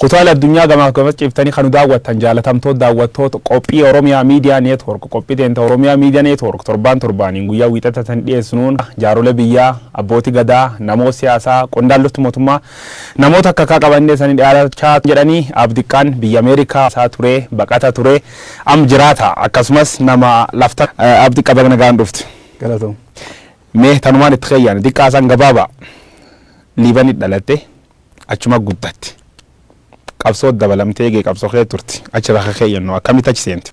Kutaalee addunyaa gamaaf gamas ciiftanii kan nu daawwattan jaalatamtoot daawwattoot qophii Oromia Media Network qophii teenta Oromia Media Network torbaan torbaaniin guyyaa wiixata isanii dhiyeessinuun jaarolee biyyaa, abbooti gadaa, namoot siyaasaa, qondaalloot mootummaa, namoot akka akkaa qabannee isanii dhiyaachaa jedhanii Aab Diqqaan biyya America isaa turee, baqata turee, am jiraata akkasumas nama lafta. Aab Diqqa baga nagaan dhufte. Galatoom. Mee tanumaan itti keyyaani. Diqqaa Hasan Gabaabaa. Liibanit dhalatte. Achuma guddatte. Qabsoo dabalamte eegee qabsoo kee turte. Achi bakka kee yennoo akkamitti achi seente?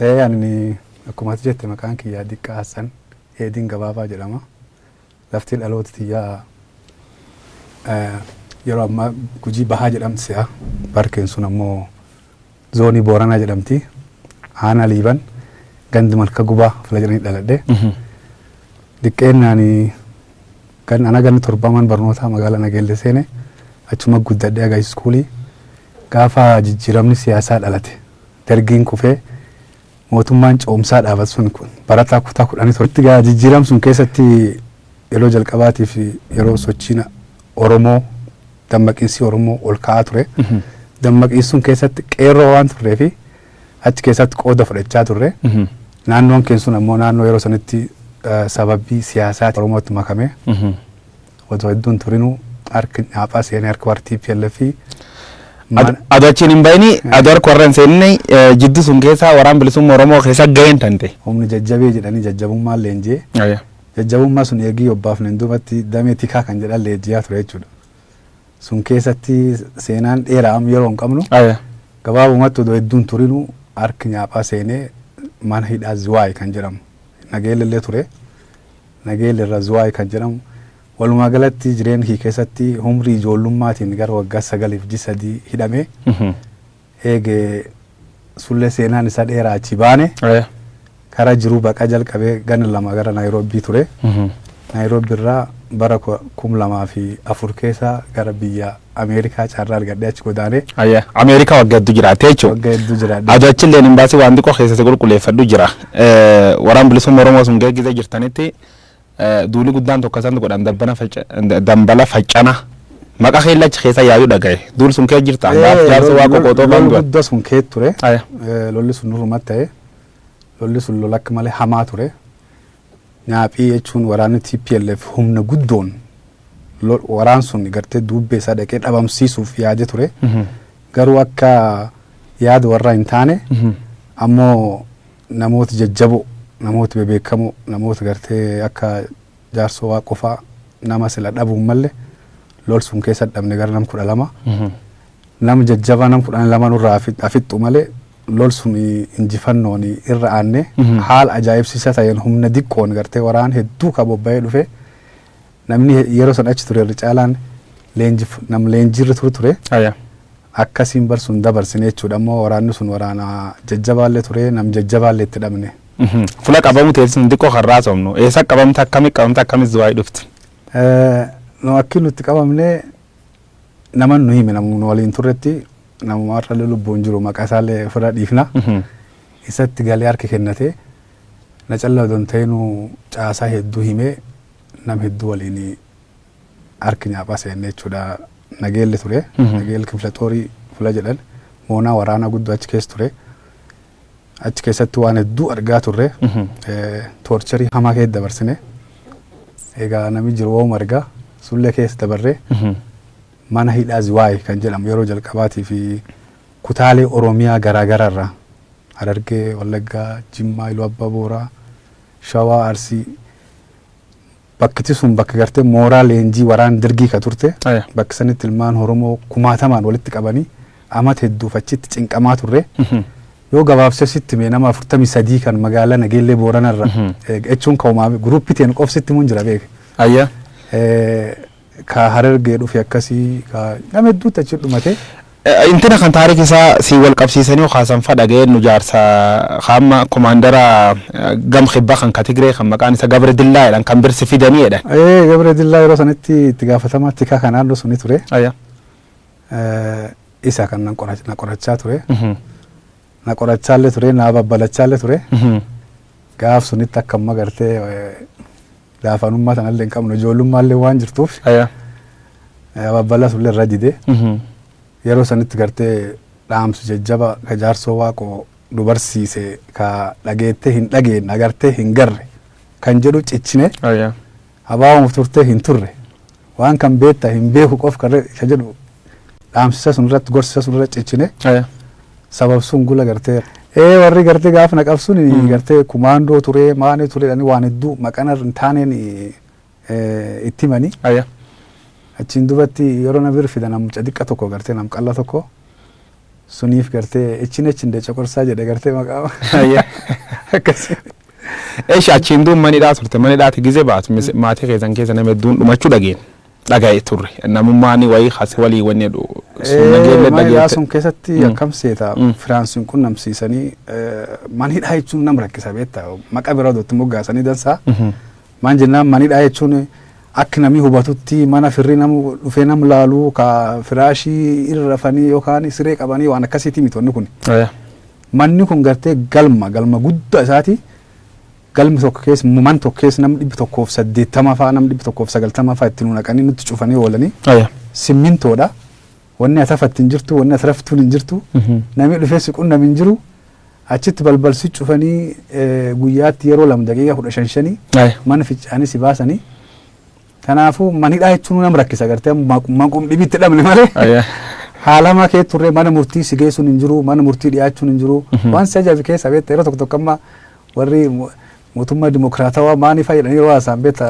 Ee ani akkuma ati jette maqaan kiyyaa Diqqaa Hassan Eedin Gabaabaa jedhama. Lafti dhaloota tiyyaa yeroo ammaa Gujii Bahaa jedhamti se'a. Parkiin sun ammoo Zoonii Booranaa jedhamti. Aanaa Liiban gandi Malka Gubaa fila jedhanii dhaladhe. Diqqeennaan gan ana ganni torbaman barnootaa magaalaa Nageellee seene achuma guddadhe aga iskuulii. Gaafa jijjiiramni siyaasaa dhalate dargiin kufee Mootummaan ce'umsaa dhaabatu sun kun barataa kutaa 11 tti egaa jijjiiram sun keessatti yeroo jalqabaatiif yeroo sochiin Oromoo dammaqiinsi Oromoo ol ka'aa ture. Dammaqiinsi sun keessatti qeerroo waan turree fi achi keessatti qooda fudhachaa turre. Naannoon keenya sun ammoo naannoo yeroo sanitti eh, sababii siyaasaati Oromootti makamee Otoo hedduu hin turinuu harki Nyaaphaa seenee harka warra TPLF fi Ad- Ado achiin hin bahini ado harka warra hin seenine eh, jidduu sun keessa waraan bilisummaa Oromoo keessa gaheen tante. humni jajjabee jedhanii jajjabummaan leenjee jajjabummaa sun eegii obbaafneen duubatti damee tikaa kan jedhan leenjiyaa ture jechuudha. Sun keessatti seenaan dheeraa amma yeroo hin qabnu gabaabumatti odoo hedduun turinuu harki nyaaphaa seenee mana hidhaa ziwaay kan jedhamu nageellee illee ture Nageel irra Zuwaay kan jedhamu. Walumaa galatti jireenya kiyya keessatti umrii ijoollummaatiin gara waggaa sagaliif ji sadii hidhamee eege sullee seenaan isaa dheeraa achi baane Eh. karaa jiruu baqaa jalqabee ganna lama gara Naayiroobii ture. Naayiroobii irraa bara ku- kum lamaa fi afur keessa gara biyya Ameerikaa carraa argadhee achi godaanee Ayya, Ameerikaa wagga hedduu jiraattee jechuudha. wagga hedduu jiraadhe. Ado achillee imbaasii waan xiqqoo keessatti qulqulleeffadhu jira. Eh, Waraan bilisummaa Oromoo sun geggeessee jirtanitti eh, duuli guddaan tokko isaan godhan dabbana facca- da- dambala faccana maqa keella achi keessa yaayuu dhagaye. Duul sun kee jirta. Gaaf jaarsa waa qoqootoo kan du'an. guddaa sun kee ture. Aya. Eh, Lolli sun nurruma ta'e. Lolli sun lola akka malee hamaa ture. Nyaaphii jechuun waraanni tplf humna guddoon waraan sun gartee duubbee isaa dhaqee dhabamsiisuuf yaade ture. Garuu akka yaada warraa hin taane ammoo namooti jajjaboo, namooti bebeekamoo, namoota gartee akka jaarsoo waa qofaa nama sila dhabuun malle lol sun keessa dhabne gara nam kudha lama. Nama jajjabaa nam kudhan lama nurraa afixxu malee lol sun injifannoon irra aanne haala ajaa'ibsiisaa ta'een humna diqqoon gartee waraan hedduu ka bobba'ee dhufe namni he- yeroo san achi ture irra caalaan leenjif nam leenjiirra turu ture Aya. akkasiin bar sun dabarsine jechuudha ammoo waraanni sun waraana jajjabaallee ture nam jajjabaallee itti dhabne. Mhm. Fula qabamu ta'e sun xiqqoo kan raasofnu. Eessa qabamte akkamii qabamte akkamii zuwaayii dhufte? Eh, nu akki nutti qabamne Naman nu hime namuma nu waliin turretti namuma har'allee lubbuun jiru maqaa isaallee ofirraa dhiifna. Isatti galee harka kennate na callaa odoo hin ta'inuu caasaa hedduu himee nam hedduu waliin harki nyaaphaa seenne jechuudha. Nageelli ture. Nageel kifla xoorii fula jedhan moonaa waraanaa guddoo achi keessa ture. Achi keessatti waan hedduu argaa turre. Toorcharii hamaa keessa dabarsine. Egaa namni jiru waa'uma argaa sullee keessa dabarree mana hidhaa Ziwaay kan jedhamu yeroo jalqabaatii fi kutaalee Oromiyaa garaa garaa irraa Harargee, Wallaggaa, Jimmaa, Iluu Abbaa Booraa, Shawaa, Arsii Bakkiti sun bakka gartee mooraa leenjii waraana Dergii ka turte. Aya. Bakka sanitti ilmaan Oromoo kumaatamaan walitti qabanii amata hedduuf achitti cinqamaa turre. Yoo gabaabsee sitti hime nama 43 kan magaalaa Nageellee Booranarra jechuun ka umaame guruuppii teen qof sitti himuun jira beeke. Aya. Eh, Ka harergee dhufe akkasi ka nama hedduutti achi dhumate. Intina kan taariki isaa sii wal qabsiisanii yoo kaasan fa dhaga'ee nu jaarsa ka amma komaandara gam kibba kan ka Tigree kan maqaan isa Gabre Dillaa jedhan kan birsi fidanii jedhan. Ee Gabre Dillaa yeroo sanitti itti gaafatamaa tikaa kan naannoo suni ture. Aya. Isa kan nan qora- na qorachaa ture. Na qorachaallee ture na babbalachaallee ture. Gaaf sunitti akka amma gartee Laafanummaa sanallee hin qabnu ijoollummaallee waan jirtuuf Aya. ababbalaa sullee irra didee Mhm. yeroo sanitti gartee dhaamsi jajjaba ka jaarsoo waaqoo nu barsiise ka dhageettee hin dhageenye agartee hin garre kan jedhu cichine Aya. abaabamuuf turtee hin turre Waan kan beekta hin beeku qof kan re- isa jedhu dhaamsisa sun irratti gorsisa sun irratti cichine Aya. sababsuun gula gartee ee warri gartee gaafa na qabsuun Mm. gartee kumaandoo turee maanii turee jedhanii waan hedduu maqana hin taaneen eh, itti himanii Aya. achiin dubatti yeroo na bir fidan mucaa xiqqa tokko gartee nam qalla tokko Suniif gartee echin echin da coqorsaa jedha gartee maqaama. Hayyee. Akkasii. Eesh achiin duun manidhaa turte manidhaati gize baatu mis- maatii keessan keessa nama hedduun dhumachuu dhageen dhaga'e turre namummaan wayii kasi walii wanni jedhu sun nageellee Manidhaa dhageette. sun keessatti Mm. akkam seeta Mm. Firaansiin kun namsiisanii manidhaa jechuun nam rakkisa beektaa maqa biraa dootti moggaasanii dansaa Mhm. Maan jennaan manidhaa jechuun akki namii hubatutti mana firri nam dhufee nam laalu ka firaashii irra rafanii yookaan siree qabanii waan akkasiitii miti wanni kuni. Aya. Manni kun gartee galma galma gudda isaati galmi tokko kees man tokko kees nam dhibbi tokkoof saddeettama faa nam dhibbi tokkoof sagaltama faa itti nu naqanii nutti cufanii oolanii Aya. simmintoodha Wanni ati hafattu hin jirtu, wanni ati raftuun hin jirtu, namni dhufee si qunname hin jiru. Achitti balbal si cufanii eh, guyyaatti yeroo lama daqiiqaa kudha shan shanii Aye. mana ficcaanii si baasanii. Kanaafuu manidhaa jechuun nama rakkisa gartee maqum dhibitti dhabne malee. Aye. Haalama kee turre mana murtii si geessuun hin jiru, mana murtii dhiyaachuun hin jiru. Waan si ajaa'ibu keessa beektaa yeroo tokko tokko amma warri mu- Mootummaa dimokiraatawaa maaniif jedhanii yeroo haasa'an beekta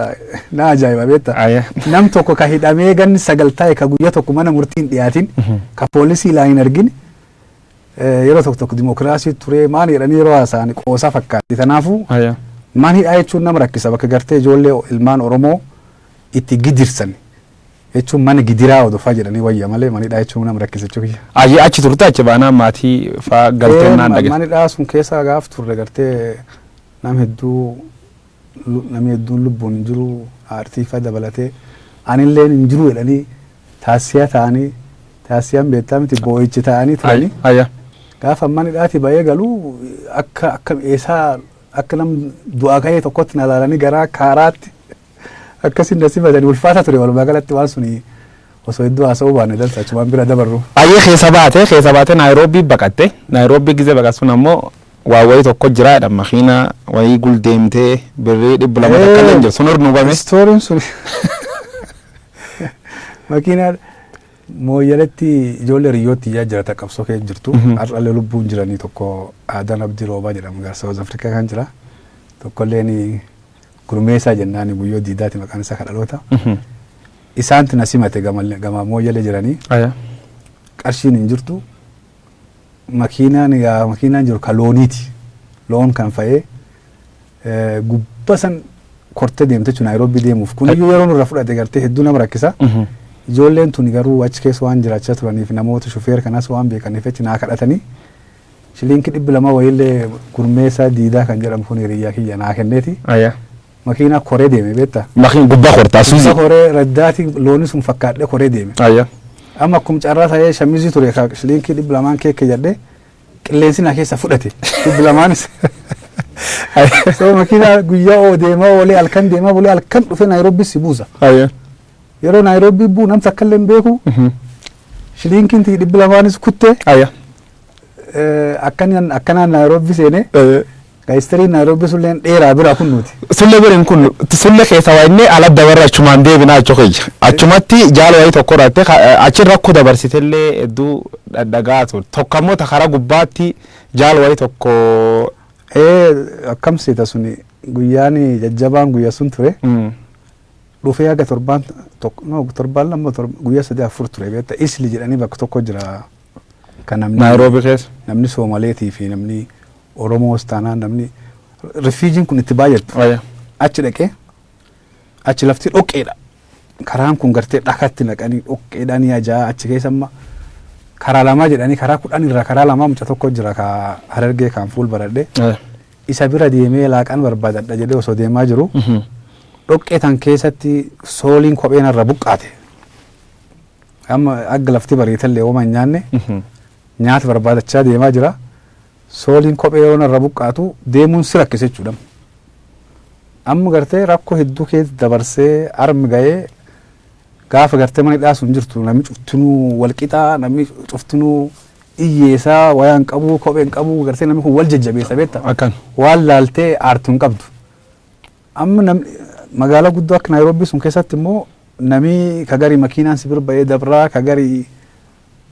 na ajaa'iba beekta. Aya. Nam tokko ka hidhamee ganni sagal taa'e ka guyya tokko mana murtii hin dhiyaatin ka poolisii ilaa hin argin eh, yeroo tokko tokko dimokiraasii turee maani jedhanii yeroo haasa'an qoosaa fakkaatti. Kanaafuu Aya. maan hidhaa jechuun nama rakkisa bakka gartee ijoollee ilmaan Oromoo itti gidirsan jechuun mana gidiraa odofaa jedhanii wayya malee manidhaa jechuun nama rakkisa jechuu kiyya. Ayyee achi turte achi baanaan maatii faa galteen naan dhagge. Manidhaa sun keessa gaaf turre gartee nam hedduu namni hedduun lubbuun hin jiru aartii faa dabalatee anilleen hin jiru jedhanii taassiyaa ta'anii taassiyaan beektaa miti boo'ichi ta'anii turanii. Ayya. Gaafa manidhaati ba'ee galu akka akka eessaa akka nam du'aa ka'ee tokkotti na ilaalanii garaa kaaraatti. Akkasiin na simatani ulfaata ture walumaa galatti waan suni osoo hedduu haasa'uu baanne dansa achumaan bira dabarru. Ayyee keessa baate keessa baate Naayiroobii baqatte Naayiroobii gizee baqatsun ammoo waa wayii tokko jira jedha makiina wayii gul deemtee birrii dhibba lama takka illee hin jiru sun hordofame. Istooriin sun makiinaa mooyyaletti ijoollee riyyootti ijaa jirata qabsoo kee jirtu har'allee lubbuun jiranii tokko aadaan abdii roobaa jedhamu gaarsa South Africa kan jira tokkolleen Gurmeessaa jennaani Guyyoo Diidaati maqaan isaa ka dhaloota. Isaantu na simate gama gama Mooyyalee jiranii. Aya. Qarshiin hin jirtu. Makiinaan yaa makiinaan jiru ka looniiti. Loon kan fa'ee eh, gubba san kortee deemte jechuun Naayiroobii deemuuf. Kun iyyuu yeroo nurra fudhate gartee hedduu nama rakkisa. Ijoolleen tuni garuu achi keessa waan jiraachaa turaniif namoota shufeer kanas waan beekaniif jecha naa kadhatanii Shiliinki dhibbi lama wayiillee Gurmeessaa Diidaa kan jedhamu kun hiriyyaa kiyya naa kenneeti. Aya. Makiinaa koree deeme beektaa? Makiin gubbaa kortaa Gubba suuzii. koree raddaati looni sun fakkaadhee koree deeme. Aya. Amma akkum carraa ta'ee shamizii ture ka shiliinkii dhibbi lamaan keekke jedhee qilleensi na keessa fudhate dhibbi lamaanis. So makiinaa guyyaa oo deemaa oolee halkan deemaa bulee halkan dhufee Naayiroobbis si buusa. Aya. Yeroo Naayiroobbis buu nam takkallee hin beeku Mhm. shiliinkiin tiyya dhibbi lamaanis kutte Aya. Eh, akkanan akkanaan Naayiroobii seenee Eh, ka history Naayiroobii sulleen dheeraa bira kun nuti. Sulle biriin kun sulle keessa waa inni ala dabarra achumaan deebina achu kiyya. Achumatti jaala wayii tokko irratti ka- eh, achi rakkoo dabarsitellee hedduu dhadhagaa ture. Tokko ammoo ta karaa gubbaatti jaala wayii tokko Eh, akkam seeta suni guyyaan jajjabaan guyya sun ture. mm, dhufee haga torbaan tokko no, torbaan lama torba- guyyaa sadii afur ture beekta isli jedhanii bakka tokko jira Kan namni- Naayiroobii keessa. namni Soomaleetii fi namni Oromoos taanaan namni rifiijiin kun itti baay'attu Ayya. achi dhaqee achi lafti dhoqqeedha. Karaan kun gartee dhakatti naqanii dhoqqeedhaan ni ajaa'a achi keessa amma karaa lamaa jedhanii karaa kudhan irraa karaa lamaa muca tokko jira ka harargee kan fuul baradhee Ayya. isa bira deemee laaqan barbaadadha jedhee osoo deemaa jiru Mhm. dhoqqee tan keessatti sooliin kopheen irra buqqaate. Amma agga lafti bariitallee woma hin nyaanne nyaata barbaadachaa deemaa jira. Sooliin kophee yeroo narra buqqaatu deemuun si rakkisa jechuudha. Amma gartee rakkoo hedduu keessa dabarsee armi gahee gaafa gartee mana hidhaa sun jirtu namni cuftinuu wal qixaa namni cuftinuu iyyeesaa wayaa hin qabu kophee hin qabu gartee namni kun wal jajjabeessa beekta. Akkan. Waan laaltee aartu hin qabdu. Amma nam magaalaa guddoo akka Naayiroobii sun keessatti immoo namii ka gari makiinaan si bira ba'ee dabraa ka gari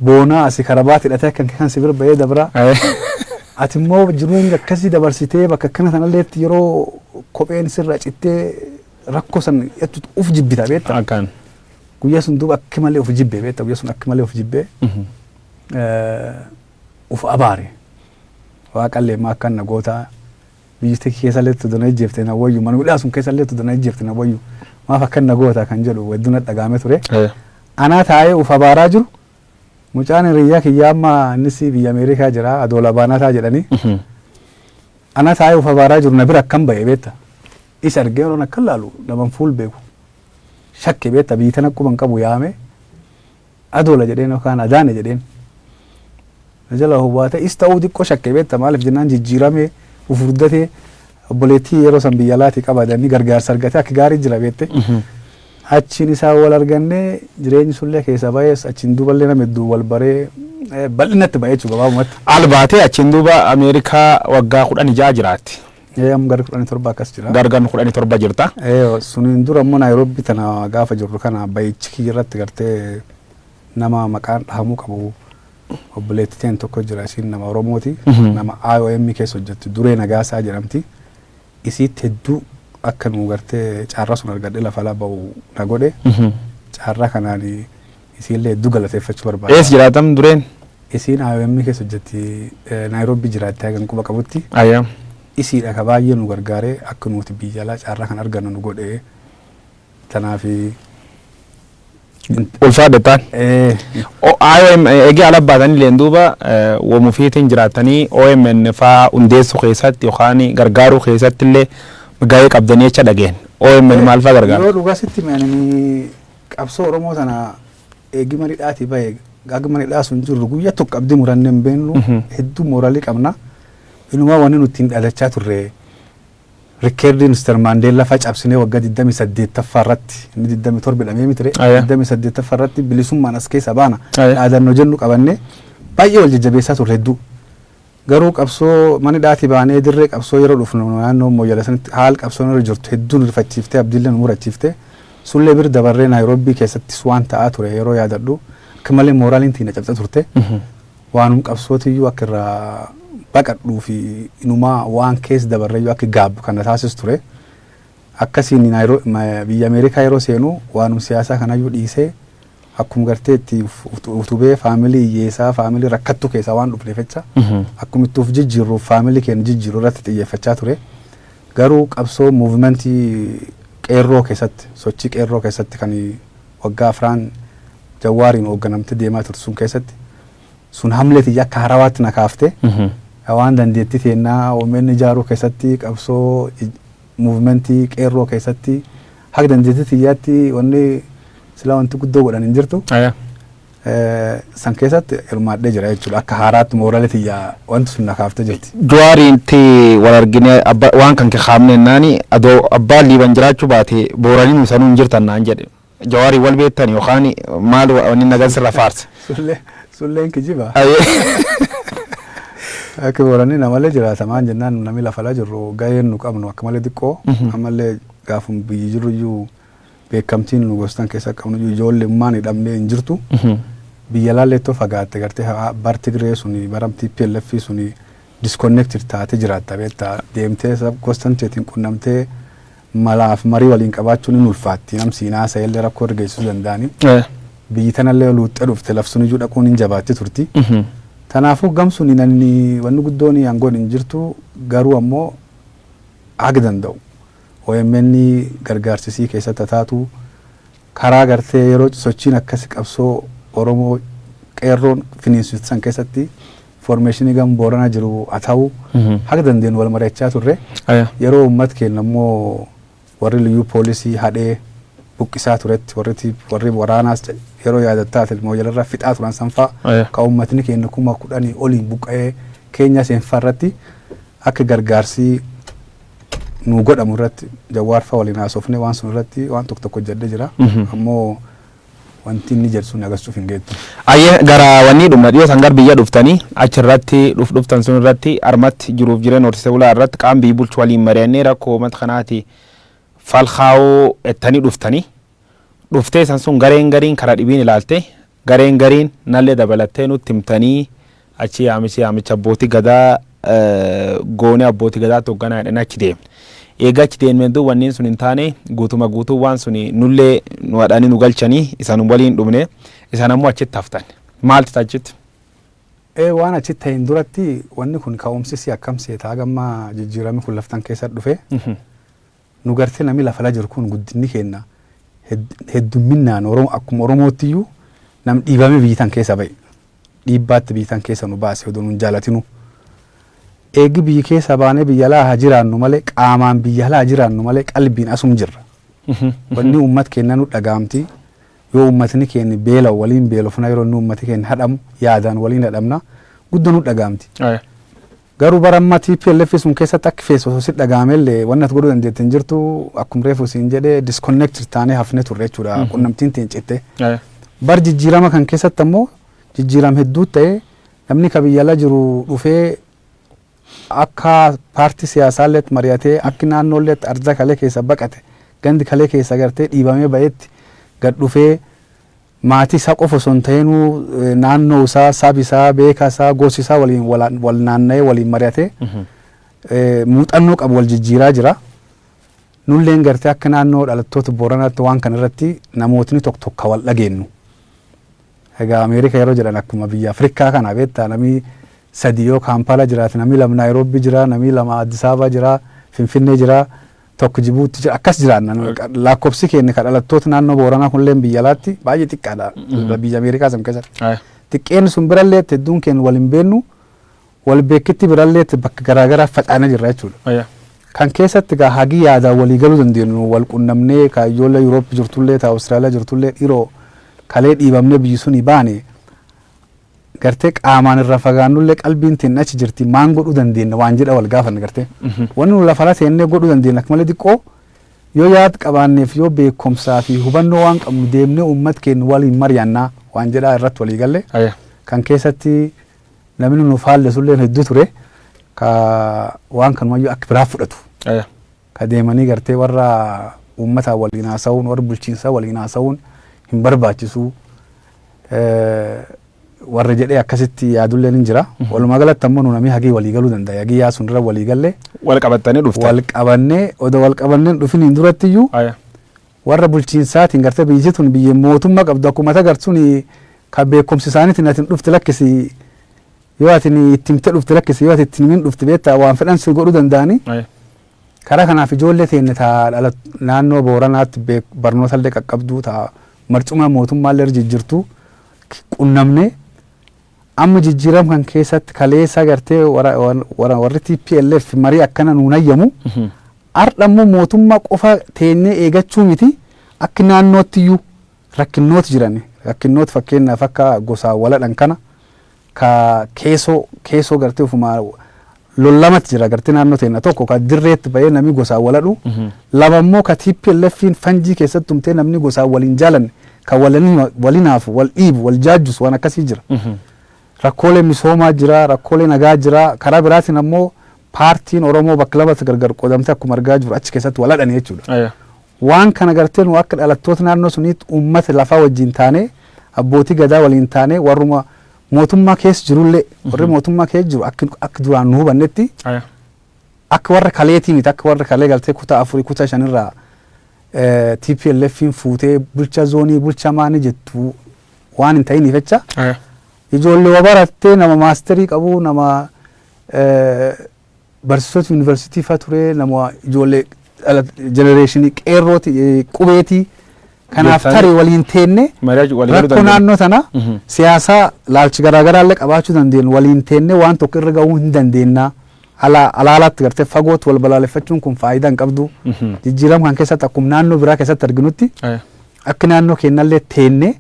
boonaa asi karabaati hidhatee akka kee kan si bira ba'ee dabraa. Ati immoo jiruun akkasii dabarsitee bakka akkana sanalleetti yeroo kopheen sirra cittee rakkoo san jettu uf jibbita beekta. Akkaan. Guyyaa sun duuba akka malee uf jibbee beekta guyyaa sun akka malee uf jibbee uf abaare. Waaqallee immoo akkaan na gootaa. Biyyi tiki keessallee itti dona ijjeefte na wayyu mana hidhaa sun keessallee itti dona ijjeefte na wayyu maaf akkan na goota kan jedhu hedduu na dhagaame ture. Eh. Anaa taa'ee uf abaaraa jiru mucaan hiriyyaa kiyyaa amma innis biyya Ameerikaa jira adoola baanataa jedhanii Mhm. anaa taa'ee uf abaaraa jiru na bira akkan ba'e beetta. Isa argee yeroon akkan laalu naman fuul beeku shakke beetta biyyi tana quban qabu yaame Adoola jedheen yookaan Adaane jedheen. Na jalaa hubaatee is ta'uu xiqqoo shakke beekta maaliif jennaan jijjiiramee fufurdatee obboleettii yeroo san biyya alaatii qabadanni gargaarsa argatee akka gaarii jira beekte. Achiin isaa wal argannee jireenyi sullee keessaa baay'ees achiin duuballee nama hedduu wal baree eh, bal'inatti ba'e jechuudha gabaabumatti. Al baatee achiin duuba Ameerikaa waggaa kudhan ijaa jiraatti. Ee amma gara kudhanii torba akkas jira. Gara gan kudhanii torba jirta. Ee suniin dura immoo Naayiroobii tana gaafa jirru kana bayichi kiyya irratti gartee nama maqaan dhahamuu qabu obboleetti teen tokko jira isiin nama Oromooti nama IOM keessa hojjetti duree nagaasaa jedhamti isiitti hedduu akka nu gartee carraa sun argadhe lafa ala ba'u na godhe carraa kanaan isiillee hedduu galateeffachuu barbaada. Ees jiraatam dureen? Isiin IOM keessa hojjetti eh, Naayiroobii jiraatti hagan quba qabutti. Ayya. Isiidha ka baay'ee nu gargaare akka nuti biyya alaa carraa kan argannu nu godhe. Tanaaf Ulfaadha taan. eh, IOM eegee ala baatanillee duuba eh, wamufiitiin jiraatanii OMN faa hundeessuu keessatti yookaan gargaaruu keessatti illee gahee qabdanii jecha dhageen. OMN maal faa gargaara? Yoo dhugaa sitti meeshanii Qabsoo Oromoo tana eegi mana hidhaatii bahe haga mana hidhaa sun jirru guyya tokko abdi muranne hin beennu hedduu mooralii qabna. Inumaa wanni nuti hin dhalachaa turre rikkeerdii Mr. Maandeellaa faa cabsinee waggaa 28ffaa irratti inni 27 hidhamee mitire Aya. 28ffaa irratti bilisummaan as keessa baana Aya. dhaadannoo jennu qabannee baay'ee wal jajjabeessaa turre hedduu. Garuu qabsoo mana hidhaatii baanee dirree qabsoo yeroo dhufnu naannoo Mooyyalee sanitti haal qabsoon irra jirtu hedduu nu rifachiiftee abdiillee nu murachiifte. Sullee bir dabarree Naayroobbii keessattis waan ta'aa ture yeroo yaadadhu akka malee mooraaliin tiyna cabxee turte. Waanum qabsootiyyuu akka irraa baqadhuu fi inumaa waan keessa dabarreyyuu akka gaabbu kan na taasisu ture. Akkasiin Naayiroo- ma- biyya Ameerikaa yeroo seenu waanum siyaasaa kanayyuu dhiisee Akkum gartee itti utubee family hiyyeesaa family rakkattuu keessaa waan dhufneef jecha akkum itti of jijjiirruuf family keenya jijjiirru irratti xiyyeeffachaa ture. Garuu qabsoo movement qeerroo keessatti sochii qeerroo keessatti kan waggaa afraan jawwaariin hoogganamte deemaa turte sun keessatti sun hamlee tiyya akka harawaatti na kaafte waan dandeettii teennaa omn ijaaruu keessatti qabsoo Muuvimentii qeerroo keessatti haga dandeettii tiyyaatti wanni silaa wanti guddoo godhan hin jirtu. San keessatti hirmaadhee jira jechuudha. Akka haaraatti moorali tiyya wanti sun na kaaftee jirti. Jawaariitti wal arginee waan kan kee kaafne jennaani adoo abbaan liiban jiraachuu baate booraniin sanuu hin jirtan naan jedhe. Jawaari wal beektani yookaan maal wanni nagan sirra faarse. Sullee sulleen kijiba. Akka boranni namalee jiraata maan jennaan namni lafalaa jirru gaheen nu qabnu akka malee xiqqoo ammallee gaafum biyyi jirru iyyuu beekamtiin nu gostan keessa qabnu iyyuu ijoollee ummaan hidhamnee hin jirtu. Biyya laallee ittoo fagaatte gartee haa- bar Tigree suni baram TPLF suni disconnected taate jiraatta beektaa deemtee sab- gostan teetiin qunnamtee Malaaf marii waliin qabaachuun hin ulfaatti. Nam siin haasa'ellee rakkoo irra geessisuu danda'ani. Biyyi tanallee yoo luuxxee dhufte laf suniyyu dhaquun hin jabaatti turti. Tanaafuu gam suniin anni wanni guddooni an godhu hin jirtu. Garuu ammoo haga danda'u omn gargaarsa isii keessatti ha taatu. Karaa gartee yeroo sochiin akkasi qabsoo Oromoo qeerroon finiinsitu san keessatti Foormeeshinii gam Booranaa jiru haa ta'u haga dandeenyu wal mari'achaa turre. Aya. Yeroo uummat keenya immoo warri liyyuu poolisii hadhee buqqisaa turetti warri tiip- warri waraanaas ca- yeroo yaadattaa ta'e mooyyalarraa fixaa turan sanfaa Aya. ka uummatni keenya kuma kudhanii oliin buqqa'ee keenya seenfaa irratti akka gargaarsii nuu godhamu irratti jawwaarfaa waliin haasofne waan sun irratti waan tokko tokko hojjedhe jira. Mhm. Ammoo wanti inni jedhu sun agarsiisuuf hin geettu. Ayye gara wannii dhumna dhiyoo tan gar biyya dhuftani achi irratti dhuf dhuftan sun irratti armatti jiruuf jireen horsiise bulaa irratti qaam biyyi bulchu waliin mari'annee rakkoo umat kanaati fal kaa'uu ettani dhuftani dhuftee san sun gareen gariin kara dhibiin ilaalte gareen gariin nallee dabalattee nutti himtanii Achi yaamichi yaamicha Abbootii Gadaa goone Abbootii Gadaatti hogganaa jedhanii achi deemne. Eega achi deemneen duuba wanneen sun hin taane guutuma guutuu waan suni nullee nu hadhanii nu galchanii isan waliin dhumne isan ammoo achitti haftan. Maalti ta achitti? Ee waan achitti ta'een duratti wanni kun ka'umsi isii akkam seeta haga amma jijjiirami kun laftan keessatti dhufe Nu garte nami lafala jiru kun guddinni keenna heddumminnaan Oromo akkuma Oromoottiyuu nam dhiibame biyyi tan keessa baye. Dhiibbaatti biyyi tan keessa nu baase odoo nun jaalatinuu. Eegi biyyi keessa baane biyya alaa haa jiraannu malee qaamaan biyya alaa haa jiraannu malee qalbiin asum jirra. Wanni ummat keenna nu dhagaamti yoo ummatni keenni beela'u waliin beelofna yeroo inni ummati keenni hadhamu yaadaan waliin hadhamna guddo nu dhagaamti. Garuu bara amma tplf sun keessatti akki feesu osoo sitti dhaga'amellee wanni ati godhuu dandeette hin jirtu akkum reefu siin jedhe disconnected taanee hafne turre jechuudha qunnamtiin tiin citte. Eh, Bar jijjiirama kan keessatti ammoo jijjiiram hedduu ta'e namni ka biyya ala jiru dhufee akka paartii siyaasaallee itti mari'atee akki naannoollee itti ardaa kalee keessa baqate gandi kalee keessa gartee dhiibamee ba'etti gad dhufee Maatii isaa qofa osoo hin ta'inuu naannoo isaa, sab isaa, beeka isaa, gos isaa waliin wal naanna'ee waliin mari'atee muuxannoo qabu wal jijjiiraa jira. Nulleen gartee akka naannoo dhalattoota Booranaatti waan kana irratti namootni tokko tokko wal dhageennu. Egaa Ameerika yeroo jedhan akkuma biyya Afrikaa kana beektaa namni sadii yoo Kaampaala jiraate namni lama Naayiroobii jira, namni lama Addis Ababaa jira, Finfinnee jira. tokko jibuutti jira akkas jiraanna nu Akka- laakkobsi keenya ka dhalattoota naannoo booranaa kunilleen biyya alaatti baay'ee xiqqaadha Mhm. biyya ameerikaa san keessatti Aya. xiqqeen sun birallee itti hedduun keenya wal hin beennu wal beekitti birallee itti bakka garaagaraa facaanee jirra jechuudha Aya. kan keessatti egaa hagii yaadaan walii galuu dandeenyu wal qunnamnee ka ijoollee yuuroopi jirtullee ta awustiraaliyaa jirtullee dhiroo kalee dhiibamnee biyyi suni baane gartee qaamaan irraa fagaannullee qalbiin teenna achi jirti maan godhuu dandeenna waan jedha wal gaafanna gartee wanni nu lafarra teennee godhuu dandeenna akka malee xiqqoo yoo yaad qabaanneef yoo beekumsaa fi hubannoo waan qabnu deemnee uummat keenya waliin mari'annaa waan jedhaa irratti walii galle Aya. kan keessatti namni nu faallesullee hedduu ture ka waan kanumayyuu akka biraa fudhatu Aya. ka deemanii gartee warra uummataan waliin haasawuun warra bulchiinsaa waliin haasawuun hin barbaachisu warra jedhee akkasitti yaadulleen hin jira. Walumaa galatti ammoo nu namii hagii walii galuu danda'a. Hagii yaasuun irra walii galle Wal qabattanii dhuftan. wal qabannee odoo wal qabanneen dhufiniin duratti iyyuu Aya. warra bulchiinsaatiin gartee biyyi tun biyya mootummaa qabdu akkuma tagartuun ka beekumsi isaaniitiin atin dhufti lakkisi Yoo ati itti himte dhufte lakkisi yoo ati itti himin dhufte beektaa waan fedhan si godhu danda'ani. Karaa kanaaf ijoollee teenya taa dhala naannoo Booranaatti barnoota illee qaqqabduu taa marcumaa mootummaa illee jijjirtu qunnamne amma jijjiiram kan keessatti kaleessa gartee warri TPLF marii akkana nuun hayyamu har'a immoo mootummaa qofa teenyee eegachuu miti akka naannootti iyyuu rakkinnooti jiran rakkinnooti fakkeenyaaf akka gosaa waladhan kana ka keesoo keesoo gartee ofumaa lollamat jira gartee naannoo teenna tokko ka dirreetti bahee namni gosaan waladhu lama immoo ka TPLFiin fanjii keessatti tumtee namni gosaan wal hin jaalanne ka walin- walin haafu wal dhiibu wal jaajjusu waan akkasii jira. rakkoolee misoomaa jira, rakkoolee nagaa jira. Karaa biraatiin ammoo paartiin Oromoo bakka lamatti gargar qoodamtee akkuma argaa jiru achi keessatti wal hadhani jechuudha. Aya. Waan kana gartee nu akka dhalattoota naannoo suniitti uummata lafaa wajjiin taanee, abbootii gadaa waliin taanee warruma mootummaa keessa jirullee, warri mootummaa keessa jiru akki akka duraan nu hubannetti Aya. akka warra kaleetii miti akka warra kalee galtee kutaa afurii kutaa shanirraa eh, TPLFiin fuutee bulchaa zoonii bulchaa maanii jettu waan hin ta'iniif jecha Aya. ijoollee waa barattee nama maasterii qabu nama eh, barsiisota yuunivarsiitii fa ture nama ijoollee dhala jenereeshinii qeerrooti eh, qubeetii kanaaf Beektaanii. tarii waliin teenne Mari'achu walii galuu rakkoo dandeenya. naannoo tana Mhm. siyaasaa laalchi garaagaraa illee qabaachuu dandeenyu waliin teenne waan tokko irra gahuu hin dandeenna Ala- alaalaatti gartee fagootti wal balaaleffachuun kun faayidaa hin qabdu Mhm. jijjiirama kan keessatti akkuma naannoo biraa keessatti arginutti Aya. akka naannoo keenyallee teenne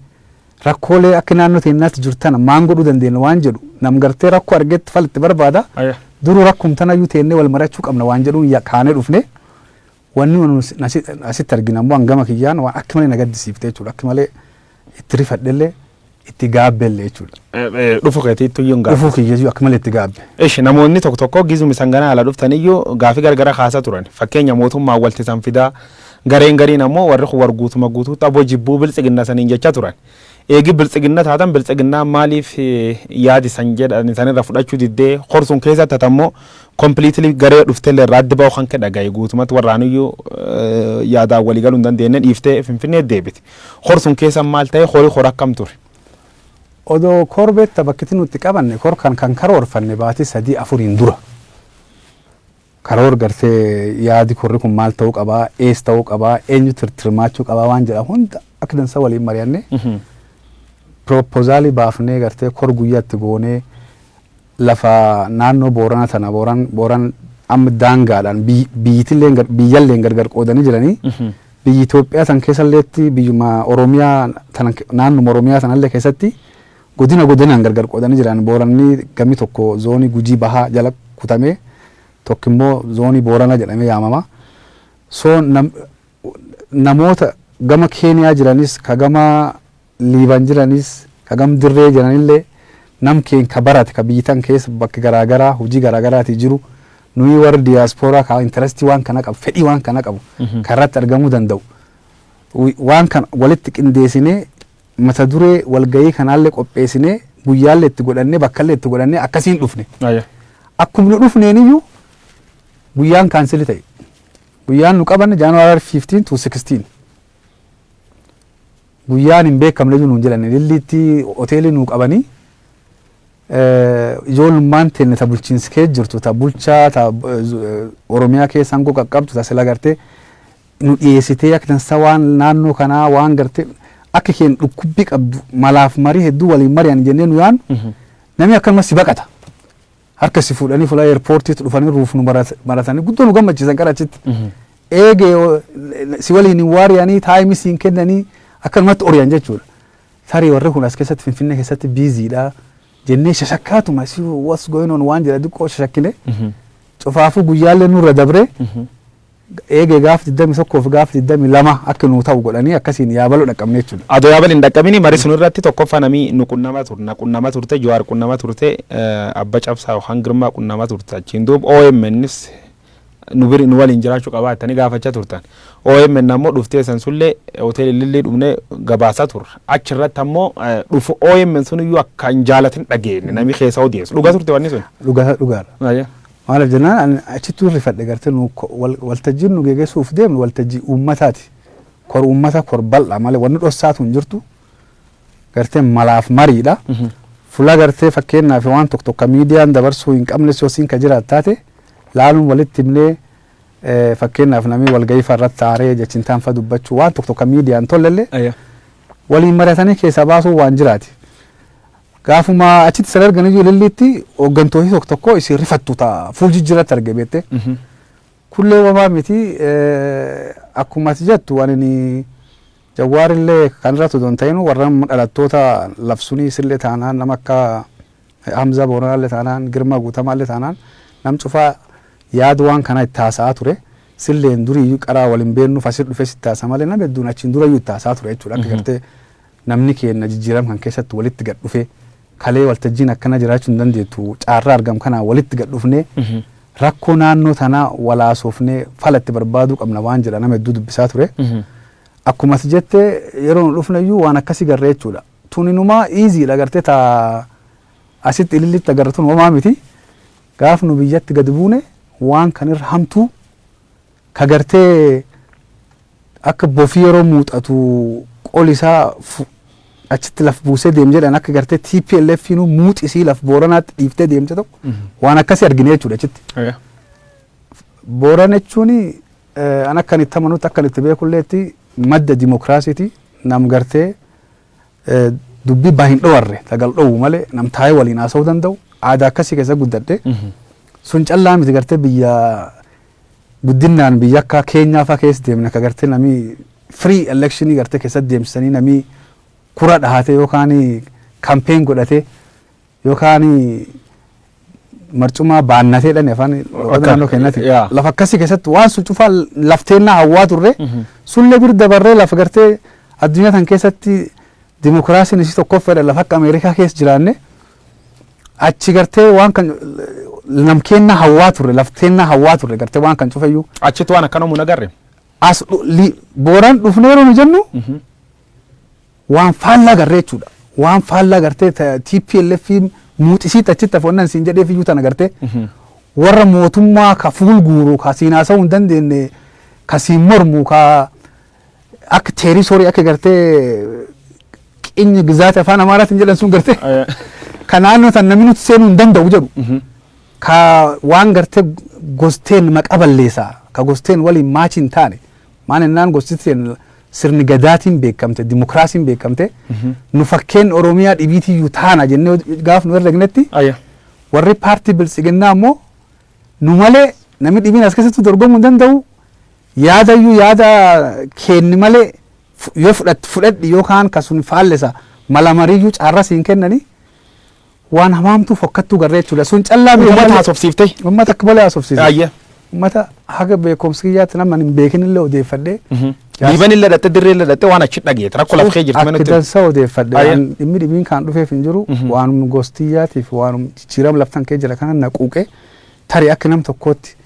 Rakkoolee akka naannoo teennaatti jiru tana maan godhuu dandeenna waan jedhu nam gartee rakkoo argetti fala itti barbaada. Aya. Duruu rakkum tanayyuu teennee wal marachuu qabna waan jedhuun ya- kaanee dhufne. Wanni nu as- asi- asitti arginu ammoo hangama kiyyaan waan akka malee na gaddisiifte jechuudha. Akka malee itti rifadhellee itti gaabbellee jechuudha. Eh, eh, Dhufu keetii ittuu iyyuu hin gaafatu. Dhufuu kiyyayyuu akka malee itti gaabbe. Ishi namoonni tokko tokko gizumi sangana ala dhuftaniyyuu gaafii gargara kaasaa turan. Fakkeenya mootummaan walti san fidaa Gareen gariin ammoo warri kun war guutuma guutuutti abo jibbuu biltsiginna saniin jecha turan. Eegi biltsiginna taatan biltsiginnaan maaliif yaadi san jedhani sanirra fudhachu didde kor sun keessa tatammo completely garee dhuftelle irraa addi bahu kanke dhagaye guutumatti warraanuyyu yaadaan wali galu hin dandeenne dhiifte finfinneet deebite. Kor sun keessa maal tahe kori kor akkam ture? Odoo kor beekta bakkiti nutti qabanne kor kan kan karoorfanne baati sadii afuriin dura. Karoor gartee yaadi korri kun maal ta'uu qaba, ees ta'uu qaba, eenyu tirtirmaachuu qaba waan jedha hunda akka dansa waliin mari'annee pirooppozaali baafnee gartee kor guyyaa itti goonee lafa naannoo Boorana tana Booran Booran amma daangaadhaan biy- biyyitilleen gar- biyyalleen gargar qoodanii jiranii biyyi Itoophiyaa tan keessalleetti biyyuma Oromiyaa tanan ke- naannuma Oromiyaa tanallee keessatti Godina godinaan gargar qoodanii jiran. Booranni gami tokko zoonii Gujii Bahaa jala kutamee tokki immoo zoonii Booranaa jedhamee yaamama. So nam namoota gama Keeniyaa jiranis ka gama Liiban jiranis ka gam Dirree jiranillee nam keen ka barate ka biyyi tan keessa bakka garaa garaa hujii garaa garaatii jiru nuyii warri diaspora ka interest waan kana qabu fedhii waan kana qabu ka irratti argamuu danda'u waan kana walitti qindeesinee mata duree walgahii kanaallee qopheessinee guyyaallee itti godhannee bakkallee itti godhannee akkasiin dhufne. Aya. Akkuma nu dhufneen iyyuu guyyaan kaansili ta'e. Guyyaan nu qabanne January 15 to 16. Guyyaan hin beekamne iyyuu nuun jedhan ililliitti hoteelii nuu qabanii Ijoollummaan teenna ta bulchiinsi keessa jirtu, ta bulchaa, ta Oromiyaa keessa aangoo qaqqabdu, ta sila gartee nu dhiyeessitee akka dansaa waan naannoo kanaa waan gartee akka keenya dhukkubbii qabdu malaaf marii hedduu waliin mari'an jennee nu yaannu namni akkanuma si baqata. Harka si fuudhanii fuula eerpoortiitti dhufanii ruuf nu maratanii guddoo nu gammachiisan gara achitti. Eegee si waliin hin waariyanii taayimii siin kennanii akkanumatti oriyan jechuudha. Tarii warri kun as keessatti Finfinnee keessatti busy dha jennee shashakkaatuma see what's going on waan jedha diqqoo shashakkine cufaafuu guyyaallee nurra dabree eegee gaaf 21 fi gaaf 22 akka nuu ta'u godhanii akkasiin yaabaloo dhaqqabne jechuudha. Adoo yaabal hin dhaqqabini marii sun irratti tokkoffaa namii nu qunnama turte na qunnama turte Jawaar qunnama turte eh, Abba Cabsaa yookaan Girmaa qunnama turte achiin duub OMNs nu biri nu waliin jiraachu qabaa jettanii gaafacha turtan. OMN ammoo dhuftee san sullee hotel Ilillii dhumnee gabaasa turre. Achi irratti ammoo dhufu OMN sun iyyuu akka hin jaalatin dhageenye namni keessa odeessu. Dhuga turte wanni sun? Dhugaa dhugaadha. Ayya. Maaliif jennaan ani achittuu rifadhe gartee nu ko- wal- waltajjiin nu gegessuuf deemnu waltajjii uummataati. Kor uummata kor bal'aa malee wanni dhossaatu hin jirtu. gartee malaaf mariidha. Fulaa gartee fakkeenyaa fi waan tokko tokko miidiyaan dabarsuu hin qabnes yoo siin ka jiraat taate laaluun walitti himnee eh, fakkeenyaaf namni walgahii fa'aa irratti taaree jechintaan fa'aa dubbachuu waan tokko tokko miidiyaan tollellee Ayya. waliin mari'atanii keessaa baasuu waan jiraati. Gaafuma achitti isin argan iyyuu lilliitti hooggantoonni tokko tokko isin rifattu ta'a fuul jijjiirratti arge beektee. Mhm. Kullee wamaa miti eh, akkuma ati jettu ani ni- Jawwaarille kan irratti odoo hin ta'inu warra dhalattoota labsunii sille taanaan nama akka Hamzaa Booranaalle taanaan Girmaa Guutamaalle taanaan nam cufaa yaad waan kanaa itti haasa'aa ture. Silleen duriiyyuu qaraa wal hin beennu Fasir dhufee sitti haasa malee nam hedduun achiin durayyuu itti haasa'a ture jechuudha akka gartee namni keenna jijjiiram kan keessatti walitti gad dhufee Kalee waltajjiin akkanaa jiraachuu hin dandeettu. Caarraa argam kanaan walitti gad dhufnee rakkoo naannoo tanaa wal haasoofnee fala itti barbaaduu qabna waan jedha nama hedduu dubbisaa ture. Akkuma ati jette yeroo nu dhufne iyyuu waan akkasii garree jechuudha. Tun inumaa iiziidha agartee taa asitti ilillitti agarra tun homaa miti. Gaaf nu biyyatti gadi buune waan kan irra hamtuu Ka gartee akka bofi yeroo muuxatu qoli isaa fu achitti laf buusee deem jedhan akka gartee TPLFiinuu muuxi isii laf Booranaatti dhiiftee deemte tokko waan akkasii argine jechuudha achitti. Aya. Booran jechuun eh, an akkan itti amanutti akkan itti beekulleetti madda dimokiraasiiti nam gartee eh, dubbii baa hin dhowarre tagal dhowu malee nam taa'ee waliin haasa'uu danda'u aadaa akkasii keessa guddadhe Mhm. sun callaa miti gartee biyya guddinnaan biyya akka Keenyaa faa keessa deemne ka gartee namii free election gartee keessatti deemsisanii namii kura dhahatee yookaan campaign godhatee yookaan marcumaa baannatee dhan afaan loqoda Akka- naannoo keenyatti yaa. lafa akkasii keessatti waan sun cufaa lafteennaa hawwaa turre sullee bir dabarree lafa gartee addunyaa tan keessatti dimokiraasiin isii tokkoffeedha lafa akka Ameerikaa keessa jiraanne achi gartee waan kan namkeenna hawwaa turre lafteenna hawwaa turre gartee waan kan cufeyyuu Achitti waan akkana mun agarre. as dhu- li- booran dhufnee yeroo nu jennu waan faallaa garree jechuudha. Waan faallaa gartee ta- TPLF muuxisiitti achitti afoonnan siin jedheef iyyuu tana gartee warra mootummaa ka fuul guuru ka siin haasa'uu hin dandeenye ka siin mormu ka akka teerisorii akka gartee qinya gizaati afaan amaaraatiin jedhan sun gartee Aya. ka naannoo tan namni nuti seenuu hin danda'u jedhu Mhm. ka waan gartee gosteen maqa balleessaa ka gosteen waliin maachi hin taane maan innaan gosteen sirni gadaatiin beekamte dimokiraasiin beekamte nu fakkeen oromiyaa dhibiitiyyuu taana jennee gaaf nu herregnetti Aya. warri paartii biltsiginnaa immoo nu malee namni dhibiin as keessatti dorgomuu hin danda'u Yaadayyuu yaada keenni malee yoo fudhatte fudhadhi yoo kaan ka sun faallesa mala mariiyyuu caarra siin kennani waan hamaamtuu fokkattuu garree jechuudha sun callaa miti Uummata haasofsiifte. Uummata akka malee haasofsiise. Aayye. Uummata haga beekumsi kiyyaatti nama hin beekinillee odeeffadhee. Liiban illee dhatte dirree illee dhatte waan achi dhageete rakkoo laf kee jirtu Akka manatti. dansa odeeffadhe Aayye. waan dhimmi dhibiin kan dhufeef hin jiru waanum gostiyyaatiif waanum jijjiirama laftan kee jira kana naquuqe tarii akka nam tokkootti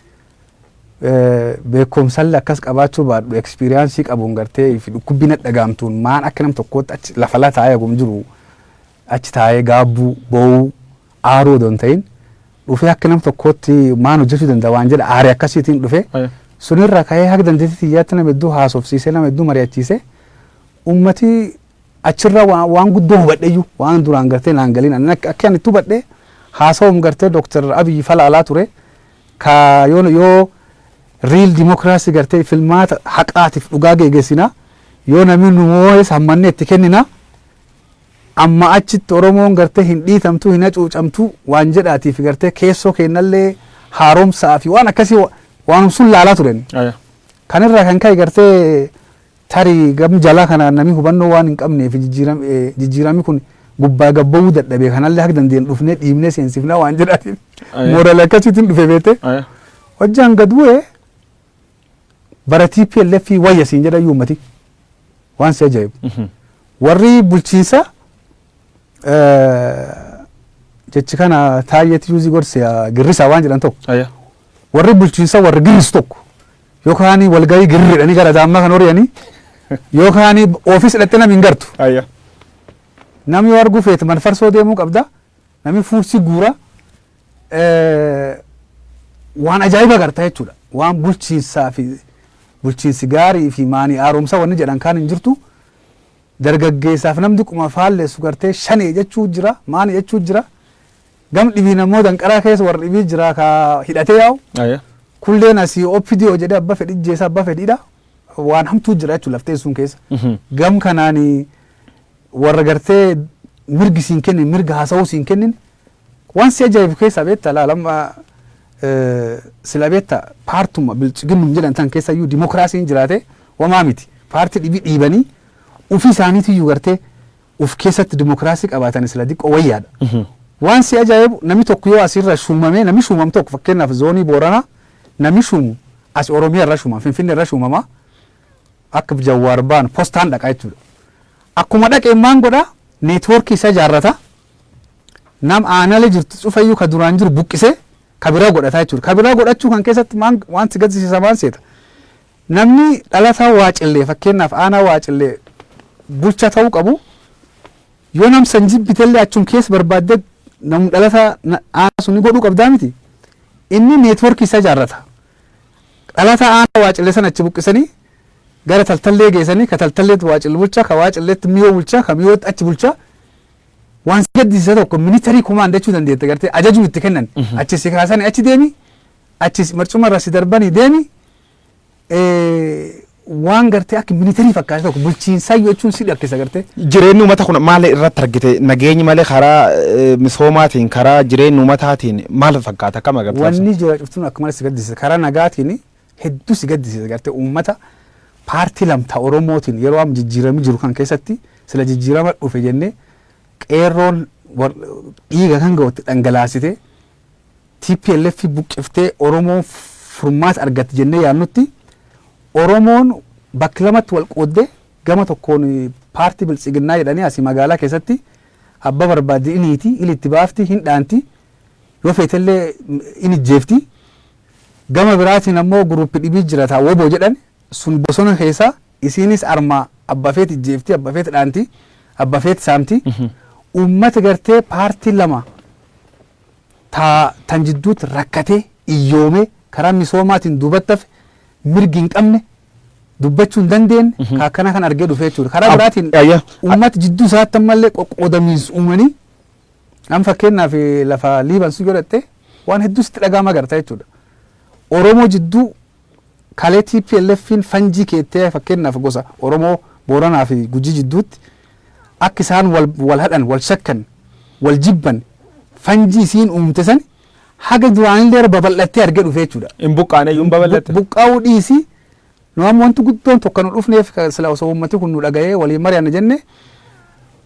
beekumsallee akkas qabaachuu baadhu ekspeeriyaansii qabuun gartee fi dhukkubbii na dhagaamtuun maan akka nam tokkootti achi lafa la taa'ee hagum jiru achi taa'ee gaabbuu boo'uu aaruu odoo hin ta'in dhufee akka nam tokkootti maan hojjechuu danda'a waan jedha aaree akkasiitiin dhufee Aye. sunirra ka'ee haga dandeettii xiyyaatti nama hedduu haasofsiisee nama hedduu mari'achiisee ummati achirra waan, waan guddoo hubadheyyuu waan duraan gartee naan galiin ani akka akka ani itti hubadhe haasawum gartee dooktar abiyyi falaalaa ture Ka yoona yoo real democracy gartee filmaata haqaatiif dhugaa geegesina yoo namii nu moohes hammannee itti kennina amma achitti oromoon gartee hin dhiitamtuu hin hacuucamtuu waan jedhaatiif gartee keessoo keennallee haaromsaa fi waan akkasii waanum sun laalaa turen Aya. kan irraa kan ka'e gartee Tarii gam jalaa kanaan namii hubannoo waan hin qabneefi jijjiirami kun gubbaa gad ba'uu dadhabe kanallee haga dandeenyu dhufnee dhiibnee seensifnaa waan jedhaatiif Aye. moorali akkasiitiin dhufe beete Aya. hojjaan gad bu'e bara TPLF wayya siin jedha iyyuu ummati waan si ajaa'ibu Mhm. warri bulchiinsa eh, jechi kana taayyeetti yuuzii gorse girrisaa waan jedhan tokko Aya. warri bulchiinsa warri girrisu tokko Yoo kaanii walgahii girridhanii gara daammaa kan horiyanii yoo kaanii ofiis dhatte nam hin gartu. Ayya. Nam yoo arguu feete man farsoo deemuu qabda. Nami fuursii guura. Eh, Waan ajaa'iba garta jechuudha. Waan bulchiinsaa fi bulchiinsi gaarii fi maanii haaromsa wanni jedhan kaan hin jirtu. Dargaggeessaaf namni quma faallessu gartee shanee jechuu jira maanii jechuu jira. Gam dhibiin ammoo danqaraa keessa warra dhibii jira ka hidhatee yaa'u. Aye. Kulleen asii OPDO jedhee abba fedhi jeessa abba fedhiidha. Waan hamtuu jira jechuun laftee sun keessa. Mhm. Gam kanaan warra gartee mirgi siin kennin mirga haasawuu siin kennin waan si ajaa'ibu keessaa beekta laalamma sila beekta paartuma bilchiginnum jedhan tan keessa iyyuu dimookiraasiin jiraate wamaa miti. Paartii dhibii dhiibanii ofii isaaniitu iyyuu gartee of keessatti dimokiraasii qabaatani sila diqqoo wayyaadha. Waan si ajaa'ibu nami tokko yoo asirra shuumamee nami shuumam tokko fakkeenyaaf zoonii Booranaa nami shuumu as Oromiyaa irra shuumama Finfinnee irra shuumama akka Jawwaar baan postaan dhaqa jechuudha. Akkuma dhaqeen maan godha neetwoorkii isa ijaarrata nam aanale jirtu cufayyuu ka duraan jiru buqqisee ka biraa godhata jechuudha. Ka biraa godhachuu kan keessatti maan wanti gaddisiisa maan seeta. Namni dhalataa Waacillee fakkeenyaaf aanaa Waacillee bulchaa ta'uu qabu yoo nam san jibbitellee achum keessa barbaaddee nam dhalataa na- aanaa sun godhuu qabdaa miti. Inni neetworkii isaa ijaarrata. Dhalataa aanaa Waacillee sana achi buqqisanii gara taltallee geessanii ka taltalleetti Waacillee bulchaa ka Waacilleetti miyoo bulchaa ka miyootti achi bulchaa waan si gaddisiisa tokko minitarii kumaan jechuu dandeette gartee ajajuu itti kennan achi si kaasanii achi deemi Achi marcuma irra si darbanii deemi waan gartee akka militarii fakkaate tokko bulchiinsaayyuu jechuun si dhakkisa gartee. Jireenyi uummata kun maal irratti argite nageenyi malee karaa eh, misoomaatiin karaa jireenyi uummataatiin maal fakkaata akkam agartee? Wanni jira cuftuun akka malee si gaddisiisa karaa nagaatiin hedduu si gaddisiisa gartee uummata paartii lamtaa Oromootiin yeroo amma jijjiiramni jiru kan keessatti sila jijjiirama dhufe jennee qeerroon war- dhiiga kan ga'utti dhangalaasite tplf buqqiftee Oromoon furmaata argatti jennee yaadnutti Oromoon bakk lamatti wal qooddee gama tokkoon paartii biltsiginnaa jedhanii asii magaalaa keessatti abba barbaaddi in hiiti, il itti baafti, hin dhaanti, yoo feetellee in ijjeefti. Gama biraatiin ammoo guruuppi dhibii jira taa woboo jedhan sun bosona keessa isiinis armaa abba feet ijjeefti abba feet dhaanti abba feet saamti ummata gartee paartii lama taa tan jidduutti rakkatee iyyoomee karaa misoomaatiin duubattafe mirgi hin qabne dubbachuu hin dandeenye ka akkana kan argee dhufee jechuudha karaa Ab- biraatiin ya- ya- ummata jidduu isaatti ammallee qoqqoodamiinsa uumanii an fakkeenyaaf eh, lafa liiban sun yoo dhatte waan hedduu sitti dhaga'ama garta jechuudha oromoo jidduu Kalee TPLFn fanjii keettee fakkeennaaf gosa Oromoo Booranaa fi Gujii jidduutti akka isaan wal wal hadhan, wal shakkan, wal jibban fanjii isiin uumte san haga duraanillee irra babal'attee argee dhufee jechuu dha. Hin buqqaane iyyuu hin babal'atte. Buqqaa'uu dhiisii nu amma wanti guddoon tokko nu dhufneef sila osoo uummati kun nu dhaga'ee waliin mari'anna jenne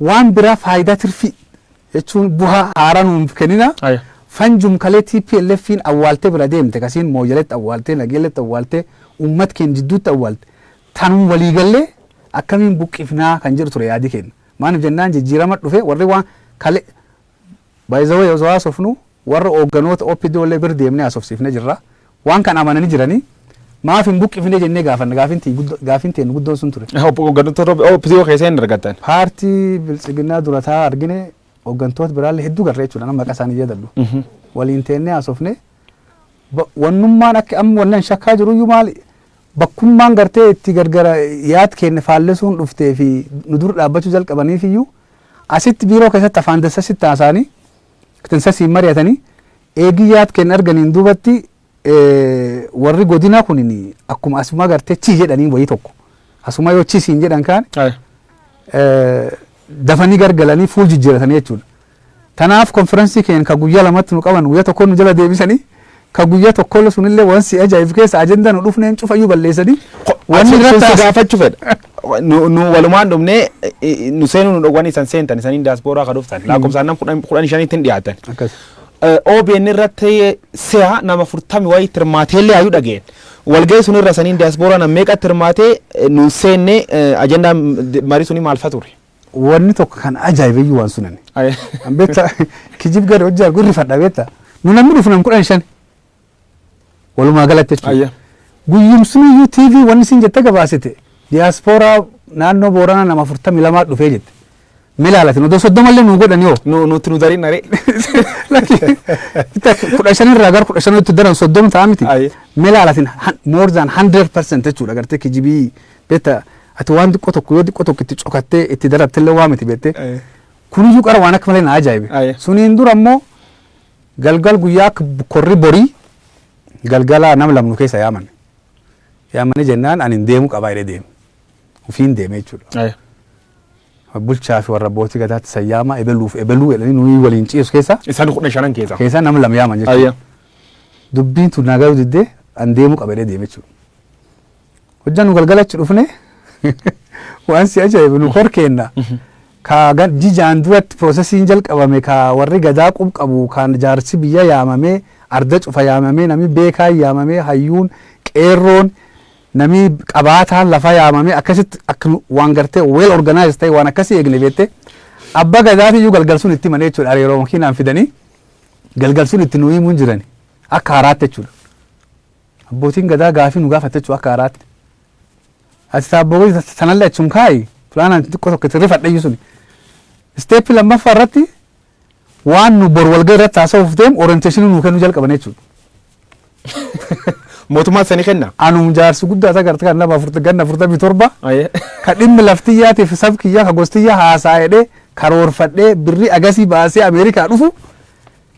waan biraa faayidaa tirfii jechuun buha haara nuunf kenina Aya. fanjum kalee TPLFn awwaalte bira deemte kasiin mooyaletti awwaalte nageelletti awwaalte uummat keen jidduutti awwaalte tanum walii gallee akkamiin buqqifnaa kan jedhu ture yaadi keenna maanif jennaan jijjiirama dhufe warri waan kale by the way osoo haasofnu warra oogganoota OPDO illee bir deemne haasofsiifne jirra Waan kan amanani jirani maaf hin buqqifnee jennee gaafanna gaafin tiy guddo gaafin teennu guddoon sun ture. Obbo Hooggantoota Rob OPDO keessa hin argattan. Paartii Biltsiginnaa dura taa'aa argine hooggantoota biraallee hedduu garre jechuudha nama maqaa isaanii hin yaadadhu. Waliin teennee haasofne ba- wannummaan akka amma wanni an shakkaa jiruyyuu maali bakkummaan gartee itti gargara yaad keenne faallessuun dhuftee fi nu dur dhaabbachuu jalqabaniifiyyuu asitti biiroo keessatti afaan dassa sitti haasaanii knsasiin mari'atanii eegii yaad kenn arganiin duubatti warri godinaa kunin akkuma asuma gartee chii jedhaniin wayii tokko asuma yoo chii siin jedhan kaan dafanii gargalanii fuul jijjiiratanii jechuudha. Tanaaf konfiraansii keenya kan guyyaa lamatti nu qaban guyyaa tokkoon nu jala deebisanii ka guyya tokkolle sunille wan si aja'ifu keessa ajenda nu dhufneen cufayyu balleessani wan Achi irratti irratti gaafachuu fedha. Nu nu walumaan dhumnee i- i- nu seenuu nu dhowwanii san seentan isaniin daaspooraa ka dhuftan lakkoofsaan nam kudhan kudhan shaniitti hin dhiyaatan. akkas Eh, OBN irratti si'a nama furtami wayii tirmaateellee hayyuu dhageen. Walga'ii sun irra saniin daaspooraa nam meeqatti hirmaatee eh, nu seennee eh, ajandaan marii sunii maalfa ture. Wanni tokko kan ajaa'ibe iyyuu waan sunani. Ay- An beektaa kijib gad hojjaa gurri fadha beektaa. Nu namni dhufu nam kudhan shan. Walumaa galatti jechuudha. Ayya. Guyyumsni iyyuu TV wanni isin jette gabaasite. Diyaaspooraa naannoo Booranaa nama afurtamii lamaa dhufee jette. Mee ilaalatin odoo soddoma illee nuu godhan yoo. Nu nutti nu darin naree. Lakki bitta kudha shan irraa gara kudha shan itti daran soddoma ta'a miti. Ayya. Mee ilaalatin han- more than hundred percent jechuudha gartee kijibii Beetta ati waan xiqqoo tokko yoo xiqqoo tokko itti cokattee itti darabtellee waa miti beette. Aye. Kuniyyuu qara waan akka malee na ajaa'ibe. Aye. Suniin dura immoo galgal guyyaa akka korri borii galgala nam lamnu keessa yaaman. Yaamanii jennaan ani hin deemu qabaa jedhee deeme. Ufiin deeme jechuudha. Aye. Bulchaa fi warra abbootii gadaatti san yaamaa ebeluuf ebeluu jedhanii nuyi waliin ciisu keessa Isaan kudha shanan keessa. keessa nam lam yaaman jechuudha. Aye. Dubbiin tun naa garuu diddee an deemu qabadee deeme jechuudha. Hojjaa nu galgala achi dhufne waan si ajaa'ibu nu kor keenna. Ka gan- jijaan duratti piroosesiin jalqabame ka warri gadaa qub qabu kan jaarsi biyya yaamamee arda cufa yaamamee namni beekaan yaamamee hayyuun qeerroon namni qabaataan lafa yaamamee akkasitti akka nu- waan gartee well organized ta'e waan akkasii eegne beette abba gadaati iyyuu galgal sun itti manee jechuudha hariiroo makiinaan fidanii galgal sun itti nu himuun jirani akka haraatti jechuudha. Abbootiin Gadaa gaafii nu gaafattechuu akka haaraatti. Ati taabboo gadi sanallee achum kaa'i. Fulaanaan xiqqoo tokko itti rifadhayyu suni. Isteeppii lammaffaa irratti waan nu bor walga'ii irratti haasa'uuf deemu orienteeshinii nuu kennuu jalqaban jechuudha. Mootummaan sani kenna. Anum jaarsi guddaa isa garte kan nama afurta ganna afurtamii torba Ayee. ka dhimmi laftiyyaatiif sab kiyyaa ka gostiyyaa haasaa'edhee karoorfadhee birrii agasii baasee Ameerikaa dhufu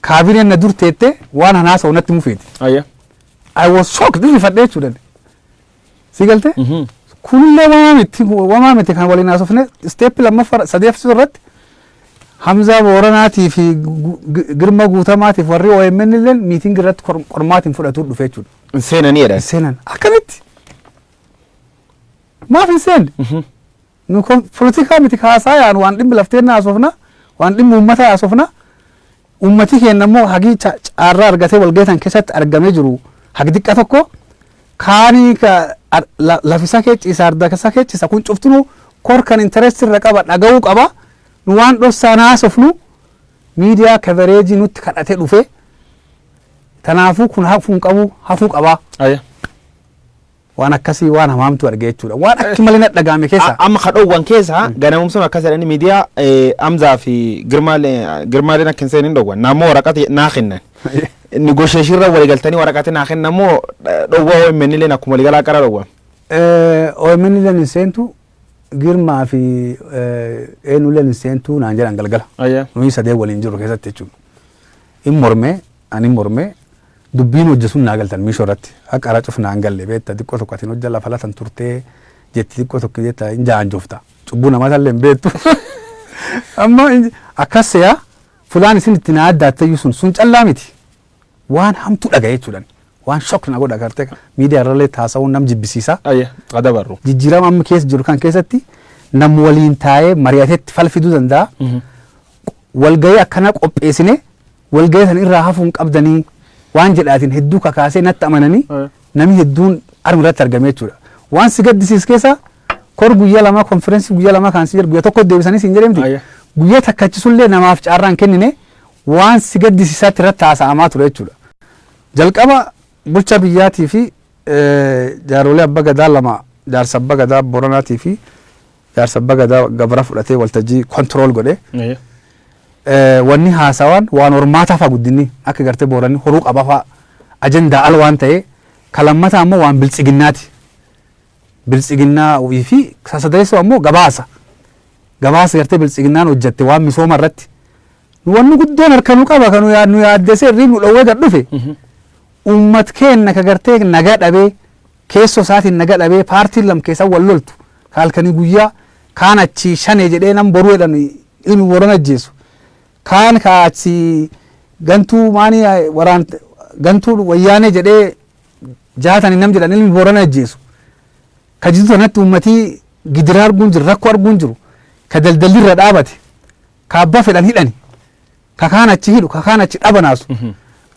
Kaabineen na dur teette waan an haasa'u natti himuu feeti. Ayya. I was shocked rifadhe jechuudha. Si galte? Mhm. Kunillee wamaa miti wamaa miti kan waliin haasofne isteeppi lammaffaa sadeeffisuu irratti Hamzaa Booranaatii fi Gu- Gu- Girma Guutamaatiif warri OMN illee miitingi irratti qor- qormaatiin fudhatuu dhufe jechuudha. Hin seenanii jedhan. Hin seenan akkamitti? Maaf hin seenne? Nu kun polotikaa miti ka haasaayaan waan dhimmi laf teenna haasofna, waan dhimmi uummataa haasofna. Uummatii keenna immoo hagii ca caarraa argatee walgahii tan keessatti argamee jiru hagi diqqa tokko kaanii ka ar la laf isa kee ciisa arda isa kee ciisa kun cuftinuu kor kan interest irra qaba dhaga'uu qaba. Nu waan dhossaan haasofnu miidiyaa kavereejii nutti kadhatee dhufe. Tanaafuu kun hafuu hin qabu hafuu qaba. Aya. Waan akkasii waan hamaamtu arge jechuudha. Waan akki malee na dhagaame keessa. Amma ka dhoowwan keessa ganamumsuun akkas jedhanii miidiyaa Amzaa fi Girmaaleen akka hin seenin dhoowwan. Naammoo waraqati naa kennan. Nigosheeshiirra waliigaltanii waraqati naa kennan moo dhoowwa OMN illeen akkuma waliigalaa qara dhoowwan. OMN illeen hin seentu Girmaa fi eenyu illeen hin seentu naan jedhan galgala. Nuyi sadee waliin jirru keessatti jechuudha. Hin mormee ani mormee Dubbiin hojja sun naa galtan miisho irratti akka ara cuf naan galle beetta diqqo tokko atin hojja lafa latan turte jetti diqqo tokko jetta hin jaanjofta cubbu nama talle hin beettu amma akkas seya fulaan isin itti naa addaattayyu sun sun callaa miti waan hamtu dhaga jechuudhan waan shok na godha garte miidiyaa irralee taasa'uun nam jibbisiisa Ayya adabarru. jijjiirama amma keessa jiru kan keessatti nam waliin taa'ee mari'atetti falfiduu danda'a. Walgahii akkanaa qopheessine Walgahii san irraa hafuu hin qabdanii waan jedhaatiin hedduu kakaasee natti amananii Eh. namni hedduun arm irratti argame jechuudha. Waan si gaddisiis keessa kor guyyaa lamaa konferensii guyyaa lamaa kan si jedhu guyyaa tokko deebisanii siin jedhamti. Ayya. Guyyaa takkachisullee namaaf carraan kennine waan si gaddisiisaatti irratti haasa'amaa ture jechuudha. Jalqaba bulchaa biyyaatii fi eh, jaaroolee abba gadaa lama jaarsa abba gadaa boranaatii fi Jaarsa Abba Gadaa gabra fudhatee waltajjii control godhe. Ee. Eh, Wanni haasawaan waan hormaataa faa guddinni akka gartee booranni horuu qaba faa ajandaa al waan ta'e ka lammataa ammoo waan biltsiginnaati. Biltsiginnaa fi sasadeessoo ammoo gabaasa. Gabaasa gartee biltsiginnaan hojjatte waan misooma irratti. Wanni guddoon harka nu qaba kan nu yaa- nu yaaddesee irriin nu dhowwee gad dhufe. Mhm. Uummat keenna ka gartee nagaa dhabee keessoo isaatiin naga dhabee paartiin lam keessa wal loltu ka halkanii guyyaa kaan achii shanee jedhee nam boruu jedhan ilmi boorana ajjeesu kaan ka achii gantuu maanii waraan gantuu wayyaanee jedhee jaatanii nam jedhan ilmi boorana ajjeesu ka jidduu kanatti uummatii gidiraa arguun jiru rakkoo arguun jiru ka daldalli irra dhaabate ka abbaa fedhan hidhani ka kaan achi hidhu ka kaan achi dhabanaasu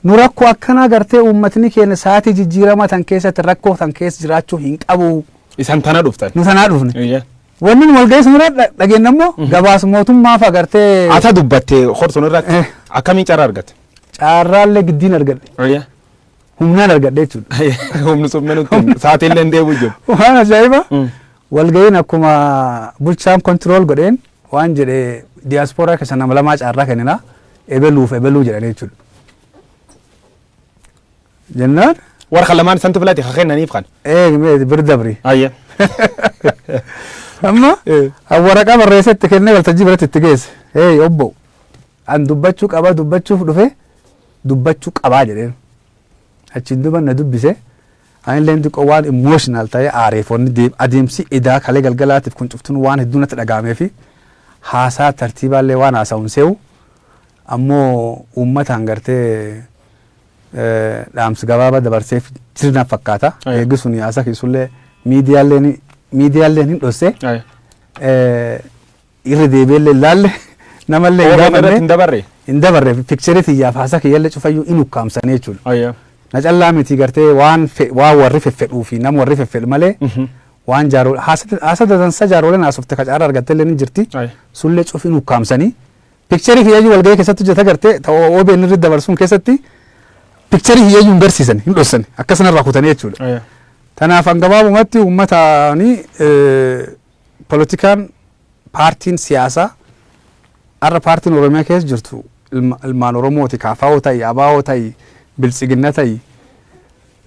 nu rakkoo akkanaa gartee uummatni keenya sa'aatii jijjiiramaa tan keessatti rakkoo tan keessa jiraachuu hin qabu Isan tana dhuftan. nu tanaa dhufne Eeyyee. wanni nu walga'ii sanirra dha- dhageenye immoo gabaas mootummaa fa'a gartee Ata dubbatte hortuun irratti Eh. akkamiin carraa argatte? caarraallee giddiin argadhe Eeyyee. humnaan argadhe jechuudha. Humni summee nutti hin saatiin illee hin deebi'u jiru. Waan ajaa'iba Mm. walga'iin akkuma bulchaan kontirool godheen waan jedhe diyaaspooraa keessa nama lamaa caarraa kennina ebeluuf ebeluu jedhan jechuudha. Jennaan Warra kan lamaan santi filate kan kennaniif kan. eegmee bir dabri. Ayya. Amma Eh. an waraqaa barreessee itti kennee waltajjii biratti itti geesse. Hey obbo an dubbachuu qaba dubbachuuf dhufe dubbachu qabaa jedheen achiin duba na dubbise anilleen xiqqoo waan emotional ta'ee aaree foonni deem adeemsi edaa kalee galgalaatif kun cuftun waan hedduu natti dhaga'ameefi haasaa tartiibaallee waan haasa'un se'u ammoo uummataan gartee dhaamsi gabaaba dabarseef jir na fakkaata Aye. eegi sun haasa keessullee miidiyaalleen miidiyaalleen hin dhosse Aye. irra deebi'ellee hin laalle namallee hin OBN irratti gaafanne hin dabarre. hin dabarre pikcherii tiyyaaf haasaa kiyyallee cufayyuu in ukkaamsanii jechuudha. Ayya. Na callaa miti gartee waan fe- waan warri feffedhuu fi nama warri feffedhu malee waan jaaroo haasa dadansa jaarooleen haasofte ka caarraa argattellee ni jirti Ayya. sullee cufiin ukkaamsanii pikcherii kiyyayyuu walgahii keessatti hojjeta gartee ta'oo OBN irratti dabarsuun keessatti pikcherii kiyyayyuu hin garsiisan hin dhossan akkasana irraa kutanii jechuudha. Ayya. Tanaaf an gabaabumatti uummatni Polotikaan paartiin siyaasaa har'a paartiin Oromiyaa keessa jirtu ilma- ilmaan Oromooti kaafaa'oo ta'i abaa'oo ta'i biltsiginna ta'i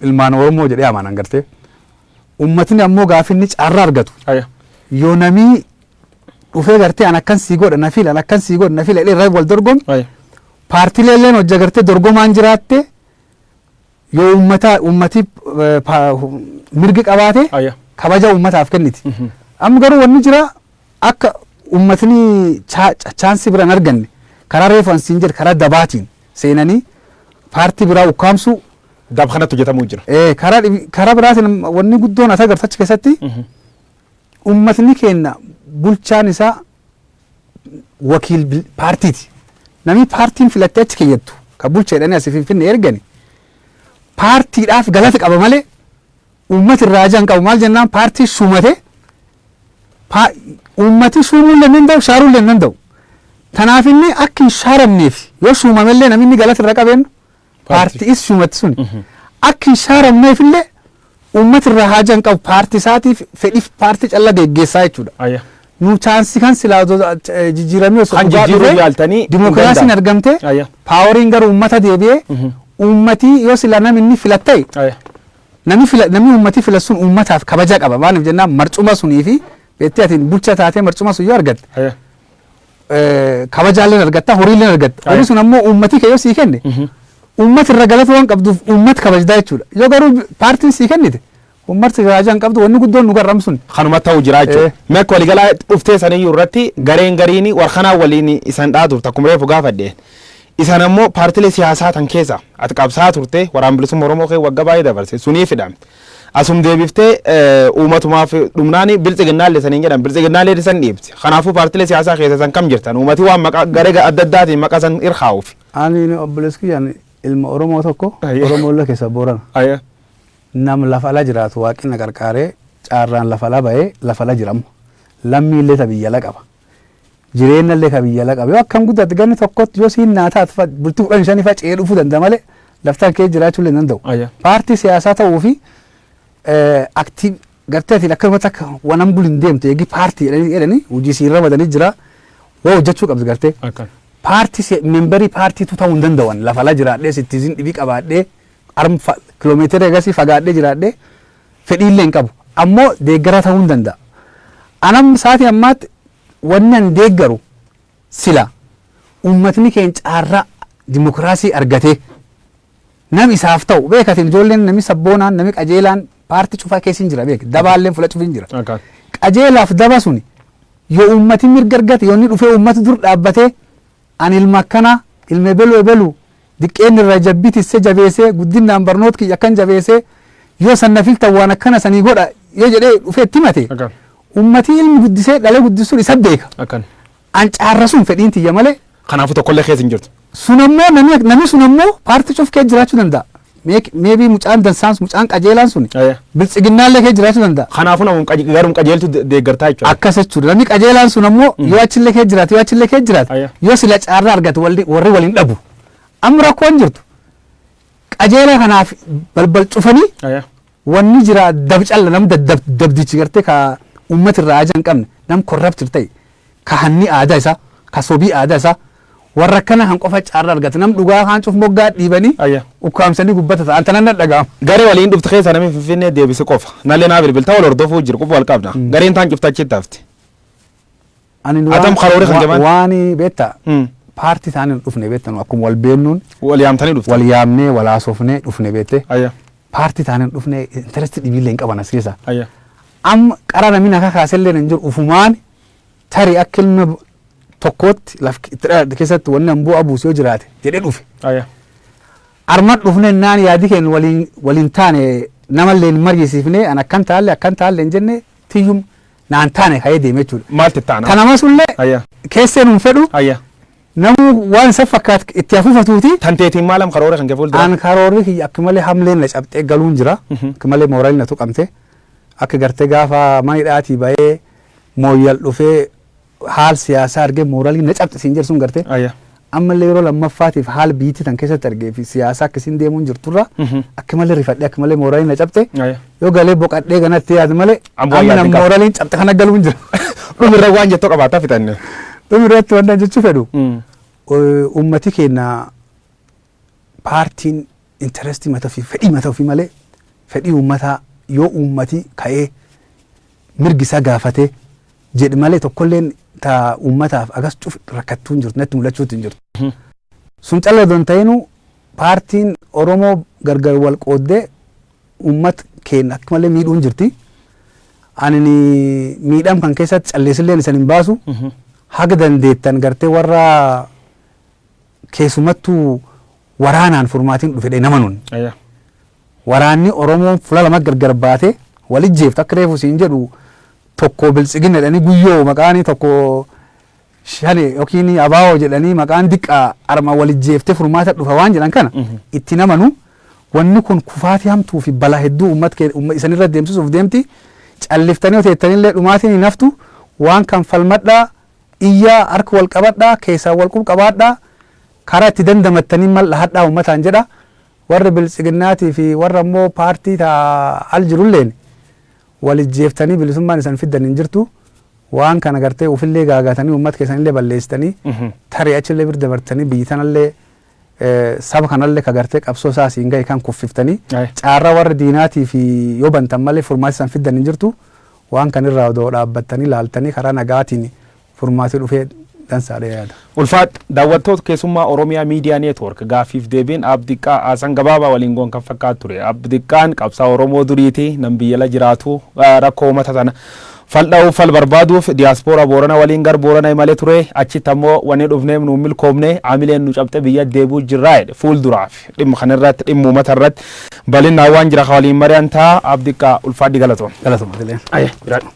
ilmaan Oromoo jedhee amanan gartee. Ummatni ammoo gaafa inni carraa argatu Aya. yoo namii dhufee gartee an akkan sii godha na fila an akkan sii godha na fila jedhee irra wal dorgomu Aya. paartilee illeen hojja gartee dorgomaan jiraatte Yoo ummata ummati eh, pa- hu- mirgi qabaate Aya. kabaja ummataaf kenniti. Mhm. Amma garuu wanni jira akka ummatni cha- cha- chaansii biraan arganne karaa reefu an siin jedhe karaa dabaatiin seenanii paartii biraa ukkaamsuu Dab kanatti hojjetamuu jira. eh, karaa dhibi- karaa biraatiin wanni guddoon as agartu achi keessatti Mhm. ummatni keenya bulchaan isaa wakiil bil- paartiiti. Namni paartiin filattee achi keeyyattu kan bulcha jedhanii asii finfinne ergani paartiidhaaf galata qaba malee uummati irraa ajaan qabu maal jennaan paartii sumate paa- uummati suumuu illee hin danda'u shaaruu illee hin danda'u. Tanaaf inni akka hin shaaramneef yoo suumamellee namni inni galata irra qabeennu paartii issuumatti sun akka hin shaaramneef illee uummati irraa haajaa hin qabu paartii isaatiif fedhiif paartii calla geggeessaa jechuudha. Ayya. Nu chaansii kan silaa osoo, eh, jijjiiramee osoo Kan dhugaa jijjiiruu dhufee, yaaltanii hin dimookiraasiin danda'amu. argamtee Ayya. paaworiin gara uummata deebi'ee uummatii yoo silaa namni inni filatta'e Ayya. namni fila namni uummatii fila sun uummataaf kabaja qaba maaliif jennaan marcuma sunii fi beektee atiin bulcha taatee marcuma sun yoo argatte Ayya. eh, kabajaalleen argatta horiilleen argatta Aye. horii sun ammoo uummatii kee yoo sii kenne Mhm. uummati irra galata waan qabduuf uummat kabajdaa jechuudha yoo garuu paartiin sii kennite uummarti kabajaa hin qabdu wanni guddoon nu garramu sun kanuma ta'u jira jechuudha. Eh. Mee akka waliigalaa dhuftee saniyyuu irratti gareen gariin warqanaa waliin isan dhaa turte akkuma reefu gaafadhe. Isan ammoo paartilee siyaasaa tan keessa ati qabsaa turte waraan bilisummaa Oromoo kee wagga baay'ee dabarse sunii fidamte. Asum deebiftee uumatumaaf dhumnaani biltsiginnaallee saniin jedhan biltsiginnaallee san dhiibti. Kanaafuu paartilee siyaasaa keessa san kam jirtan uumati waan maqaa garee adda addaatiin maqaa san irkaa'uufi. Ani obboleessi kiyyaan ilma Oromoo tokko Ayyee. Oromoollee keessa Boorana. Ayya. Nam lafa ala jiraatu waaqni na qarqaaree caarraan lafa ala bahee lafa ala jira amma. Lammiillee ta biyya ala qaba. jireenna illee ka biyya ala qaba. Yoo akkan guddate ganni tokkotti yoo siin naa taate bultii kudhan shanii fa'a ce'ee dhufuu danda'a malee laftaan kee jiraachuu illee hin danda'u. Ayya. Paartii siyaasaa ta'uu fi aktii gartee atiin akkasumatti akka wanan buli hin deemtu eegi paartii jedhanii jedhanii hojii siin ramadanii jira waa hojjechuu qabdi gartee. Akkan. Paartii se- memberii paartiitu ta'uu hin danda'an lafa ala jiraadhee sittiizin dhibii qabaadhee arm kiloomeetira egasii fagaadhee jiraadhee fedhiillee hin qabu. Ammoo deeggaraa ta'uu hin danda'a. An amma sa'aatii ammaatti wanni an deeggaru sila uummatni keenya caarraa dimokiraasii argatee nam isaaf ta'u beeka atiin ijoolleen nami sabboonaan nami qajeelaan paartii cufaa keessa hin jira beeka dabaalleen fula cufii hin jira. Akaan. qajeelaaf daba suni yoo uummati mirga argate yoo inni dhufee uummata dur dhaabbatee Ani ilma akkanaa, ilma ebelu ebelu, diqqeenna irraa jabbi tisse jabeessee, guddinnaan barnoot kiyya akkan jabeessee, yoo san na filtan waan akkana sanii godha yoo jedhee dhufee itti himate, Akkan. ummatii ilmi guddisee dhalee guddisu sun isa beeka. Akkan. An caarra sun fedhiin tiyya malee, Kanaafuu tokkollee keessa hin jirtu. sun ammoo namni namni sun ammoo paartii cuf keessa jiraachuu danda'a. Meek- Maybe mucaan dansaans mucaan qajeelaan sun Aya. biltsiginnaallee kee jiraachuu danda'a. Kanaafuu namum qaje- garum qajeeltu de- deeggartaa jechuudha. Akkas jechuudha. Namni qajeelaan sun ammoo yoo achillee kee jiraate yoo achillee kee jiraate Ayya. yoo sila caarraa argate walli- warri waliin dhabu. Amma rakkoon jirtu qajeelaa kanaaf balbal cufanii Aya. Wanni jira dab calla nam dadab dabdichi garte ka ummati irraa aja hin qabne nam corrupted tahe ka hanni aadaa isaa ka sobii aadaa isaa warra akkana kan qofa caarra argata nam dhugaa kaan cuf moggaa dhiibanii Ayya. ukkaamsanii gubba tata an tanan na dhaga'ama. Garee waliin dhufte keessa namni Finfinnee deebise qofa. Nallee naa bilbilta wal hordofuu jiru qofa wal qabna. Gareen taan cufta achitti hafte. Ani nu Atam waan- karoore kan wa- jabaan. Waan beetta Mm. paartii isaanii hin dhufne beetta nu akkuma wal beennuun Wal yaamtanii dhufte. wal yaamnee wal haasofnee dhufne beette Ayya. paartii isaanii hin dhufne intaresti dhibiillee hin qaban as keessa. Ayya. Amma qara namni akka kaasellee hin jiru ufumaan tarii akka ilma b- tokkootti laf itti dhalate keessatti wanni an bu'aa buusu yoo jiraate jedhee dhufe. Ayya. Arma dhufne naan yaadi keenya waliin waliin taane namallee hin mariisiifne an akkan taalle akkan taalle hin jenne tiyyum naan taane ka'ee deeme jechuudha. Maal tettaan? Kana masullee Ayya. keessee nuun fedhu Ayya. namuu waan isa fakkaatu itti hafuufatuuti. Tan teetiin maalam karoora kan gafuul dura? Aan karoorri kiyya akka malee hamleen na cabxee galuun jira. Akka malee mooraalii na tuqamte. Akka gartee gaafa manidhaatii bahee mooyyal dhufee haal siyaasaa argee mooraalii na cabxe siin jedhu sun garte Aya. ammallee yeroo lammaffaatiif haal biyyittii tan keessatti argee fi siyaasaa akka isiin deemuun jirturra Mhm. akka malee rifadhee akka malee mooraalii na cabxe Aya. yoo galee boqadhee ganatti yaadu malee Ammoo amma yaadni na qaba. mooraaliin cabxe kana galuun jira Dhumirra waan jettu qabaataa fixanne. dhumirratti wanta jechuu fedhu Mm. ummati keenya paartiin interest mata ofii fedhii mata ofii malee fedhii uummataa yoo uummati ka'ee mirgi isaa gaafatee jedhe malee tokkolleen ta uummataaf agas cuf rakkattuu hin jirtu natti mul'achuutti hin jirtu. Sun calla odoo hin ta'inuu paartiin Oromoo gargar wal qooddee uummat keenya akka malee miidhuu hin jirti. Ani miidham kan keessatti calleessilleen isan hin baasu. Haga dandeettan gartee warra Keesumattuu waraanaan furmaatiin dhufe jedhee namanun. Aya. Waraanni Oromoon fula lama gargar baate wal ijjeeftu akka reefu siin jedhu tokko biltsigina jedhanii guyyoo maqaanii tokko shane yookiin abaawoo jedhanii maqaan diqqaa arma wal ijjeeftee furmaata dhufa waan jedhan kana itti namanu wanni kun kufaatii hamtuu fi balaa hedduu uummat kee uumma isanirra deemsisuuf deemti calliftanii hoteettanillee dhumaatiin hin haftu waan kan falmadhaa Iyyaa, hark wal qabadhaa, keessaan wal qub qabaadhaa, karaa itti dandamattanin mal dhahadhaa ummataan jedha. Warri Biltsiginnaatii fi warra immoo paartii ta al jirulleen wal ijjeeftanii bilisummaan isan fiddan hin jirtu. Waan kana gartee ufillee gaagaatanii ummat keessanillee balleessitanii tarii achillee bir dabartanii biyyi tanallee saba kanalle ka gartee qabsoo isaa asiin gahe kan kuffiftanii Aye. caarraa warra diinaatiif yoo bantan malee furmaati san fiddan hin jirtu waan kan irraa odoo dhaabbattanii laaltanii karaa nagaatiin furmaati dhufee dansaadha yaada. Ulfaat daawwattoota keessummaa Oromiyaa Miidiyaa Neetwoork gaaffiif deebiin Aab Diqqaa Haasan Gabaabaa waliin goon kan fakkaatu ture. Aab Diqqaan qabsaa Oromoo duriiti nam biyyala jiraatu ah, rakkoo uummata tana Fal dha'uuf fal barbaaduuf diaspora Boorana waliin gar Boorana imale ture. Achitti ammoo wanni dhufneef nu hin milkoomne. Aamileen nu cabxe biyyatti deebi'uu jirra jedhe. Fuulduraaf dhimma kana irratti dhimma uumata irratti balinnaan waan jira ka waliin mari'an ta'a. Aab Diqqaa ulfaadhi galatoomi. Galatoomi atileen. Aye jiraadhu.